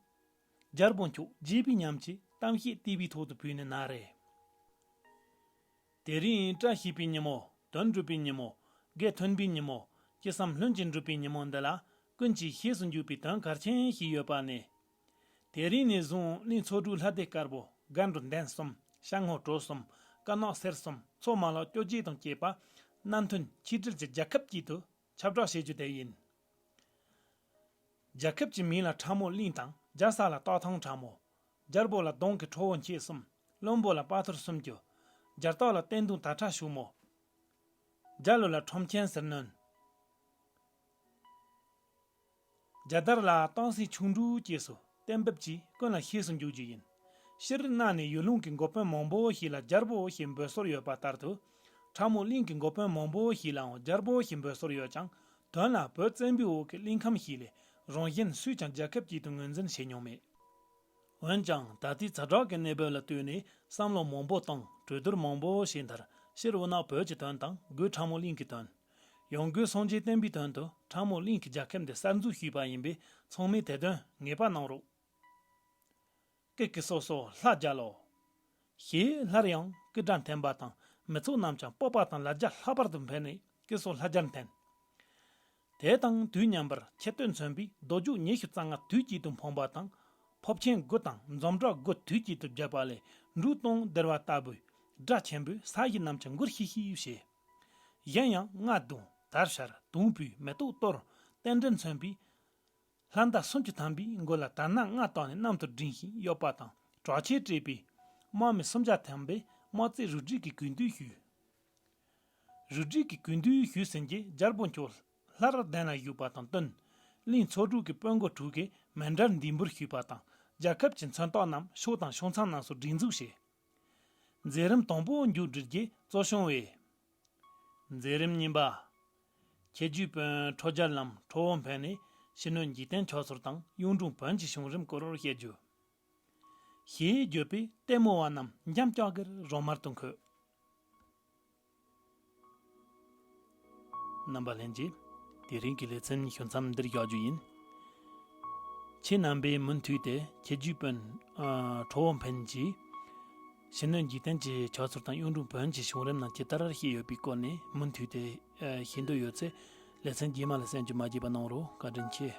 སྦྱར་དགུན་ཆོས་རྗེས་པའི་ཉམས་ཀྱི་གཏམ་བཤད་ལྟེ་བའི་ཐོག་ཏུ་བུད་ནས་ན་རེ། དེ་རིང་བཀྲ་ཤིས་པའི་ཉིན་མོ་དོན་འགྲུབ་པའི་ཉིན་མོ་དགེ་ཐོན་པའི་ཉིན་མོ་ཅི་བསམ་ལྷུན་གྱིས་འགྲུབ་པའི་ཉིན་མོ་འདི་ལ་ཀུན་གྱིས་ཤེས་སུ་འཇུག་པའི་དོན་གལ་ཆེན་ཞིག་ཡོད་པ་ནི། དེ་རིང་ནས་བཟུང་གླིང་ཚོ་དྲུག་ལྷ་སྡེ་དཀར་པོ་སྒ་འགྲོ་འདན་གསུམ་ཤ་ངོ་གྲོ་གསུམ་དཀར་ནག་སེར་གསུམ་མཚོ་མ་ལ་སྐྱོ་སྐྱེས་དང་བཅས་པ་སྣ་མཐུན་ཆིག་སྒྲིལ་གྱིས་རྒྱལ་ཁབ་དཀྱིལ་དུ་ཁྱབ་བསྒྲགས་བྱེད་རྒྱུ་དེ་ཡིན། རྒྱལ་ཁབ་ཀྱི་མིང་ལ་ཁྲ་མོ་གླིང་དང་རྒྱལ་ས་ལ་སྟག་ཐང་ཁྲ་མོ། རྒྱལ་པོ་ལ་གདོང་གི་ཁྲོ་བོ་མཁྱེད་གསུམ་བློན་པོ་ལ་དཔའ་ཐུར་སུམ་ཅུ། རྒྱལ་སྟག་ལ་བསྟན་དུང་དར་ཁྲ་ཞུགས་མོ། རྒྱལ་ལོ་ལ་ཁྲོམ་ཆེན་ཟིལ་གནོན། རྒྱལ་དར་ལ་སྟོང་སྲིད་ཆུང་འབྲུག་སྐྱེས་སུ་གཏན་འབེབས་ཀྱིས་ཀུན་ལ་ཤེས་སུ་འཇུག་རྒྱུ་ཡིན་ཕྱིར། གནའ་ནས་ཡུལ་ལུང་གི་འགོ་དཔོན་མང་པོ་ཞིག་ལ་རྒྱལ་པོ་ཞེས་འབོད་སྲོལ་ཡོད་པ་ལྟར་དུ། ཁྲ་མོ་གླིང་གི་འགོ་དཔོན་མང་པོ་ཞིག་ལའང་རྒྱལ་པོ་ཞེས་འབོད་སྲོལ་ཡོད་ཀྱང་དོན་ལ་བོད་བཙན་པོའི་འོག་གི་གླིང་ཁམས་ཤིག་ལས་རང་གཞན་སུས་ཀྱང་རྒྱལ་ཁབ་ཅིག་ཏུ་ངོས་འཛིན་བྱེད་མྱོང་མེད། འོན་ཀྱང་ད་ལྟའི་ཚ་གྲོགས་ཀྱི་གནས་བབ་ལ་ལྟོས་ནས་བསམ་བློ་མང་པོ་དང་གྲོས་བསྡུར་མང་པོ་བྱས་མཐར་ཕྱིར་འུ་ནག་བོད་ཀྱི་དོན་དང་སྒོས་ཁྲ་མོ་གླིང་གི་དོན། ཡོང་སྒོའི་སྲུང་བྱའི་བསྟན་པའི་དོན་དུ་ཁྲ་མོ་གླིང་གི་རྒྱ་ཁབ་འདི་གསར་འཛུགས་ཞུས་པ་ཡིན་པས་ཚང་མས་དེ་དོན་ངེས་པར་གནང་རོགས། སྐད་ཀྱི་སོ་སོ་ལྷ་རྒྱལ་ལོ། ཞེས་སླར་ཡང་སྐུ་དགྲ་འཐེན་པ་དང་མི་ཚོགས་རྣམས་ཀྱང་སྤོབས་པ་དང་ལ་རྒྱ་ལྷག་པར་དུ་འཕེལ་ནས་སྐད་སོ་ལྷ་རྒྱལ་འཐེན། དེ་དང་དུས་མཉམ་པར་ཁྱད་སྟོད་མཚོན་པའི་རྡོ་རྒྱུགས་ཉི་ཤུ་རྩ་ལྔ་དུས་དཀྱིལ་དུ་འཕངས་པ་དང་ཕོབ་ཆེན་དགུ་དང་འཛོམ་དྲག་དགུ་དུས་དཀྱིལ་དུ་བརྒྱབ་པ་ལས་འབྲུག་སྟོང་ལྡིར་བ་ལྟ་བུའི་སྒྲ་ཆེན་པོས་ས་གཞི་རྣམས་ཀྱང་མགུར་ཤིག་ཤིག་བྱེད། གཞན་ཡང་རྔ་བརྡུང་དར་ཤར་དུང་བུས་མེ་ཏོག་གཏོར། རྟེན་འབྲེལ་མཚོན་པའི་ལྷ་མདའ་སུམ་ཅུ་ཐམ་པའི་མགོ་ལ་དར་སྣ་ལྔ་བཏགས་ནས་གནམ་དུ་བསྒྲེངས་ཤིང་གཡོགས་པ་དང་དྲག་ཆས་སྤྲས་པའི་དམག་མི་སུམ་བརྒྱ་ཐམ་པས་དམག་རྩེད་རུ་སྒྲིག་གི་གུས་འདུད་ཞུས། རུ་སྒྲིག་གི་གུས་འདུད་ཞུས་ཟིན་རྗེས་རྒྱལ་པོ་མཆོག་ལྷ་ར་གདན་ལ་བཞུགས་པ་དང་བསྟུན། གླིང་ཚོགས་དྲུག་གི་དཔོན་མགོ་དྲུག་གིས་མེ་འདྲར་འདུས་འབུལ་ཞུས་པ་དང་རྒྱལ་ཁབ་ཀྱི་མཚོན་རྟགས་རྣམས་ཕྱོགས་དང་ཕྱོགས་མཚམས་རྣམས་སུ་སྒྲིག་འཛུགས་བྱས། མཛད་རིམ་དང་པོ་མཇུག་སྒྲིལ་རྗེས་གཙོ་བྱུང་བས། མཛད་རིམ་གཉིས་པ། ཁྱེད་རྒྱུད་དཔོན་ཁྲོ་རྒྱལ་རྣམས་ཁྲོ་བོ་འཕེལ་ནས་ཕྱི་སྣོད་འཇིག་རྟེན་མཆོག་ཟུར་དང་གཡུང་དྲུང་བོན་གྱི་བྱུང་རིམ་སྐོར་བཤད་རྒྱུ། ཞེས་བརྗོད་པས་ལྟད་མོ་བ་རྣམས་འཇམ་ཅོག་གེར་རོ་དམར་དུ་འཁོད། རྣམ་པ་ལྷན་རྒྱས། དེ་རིང་གི་ལེ་ཚན་གཞུང་མཚམས་འདིར་བཞག་རྒྱུ་ཡིན། ཁྱེད་རྣམ་པས་མུ་མཐུད་དེ་ཁྱེད་རྒྱུད་དཔོན་ཁྲོ་བོ་འཕན་གྱིས་ཕྱི་སྣོད་འཇིག་རྟེན་གྱི་ཕྱག་ཚོར་དང་གཡུང་དྲུང་བོན་གྱི་བྱུང་རིམ་རྣམས་ཇི་ལྟར་ཤེས་ཡོད་པའི་སྐོར་ནས་མུ་མཐུད་དེ་ཤེས་འདོད་ཡོད་ཚེ་ལེ་ཚན་རྗེས་མ་ལ་གསན་རྒྱུ་མ་བརྗེད་པ་གནང་རོགས་བཀའ་དྲིན་ཆེ།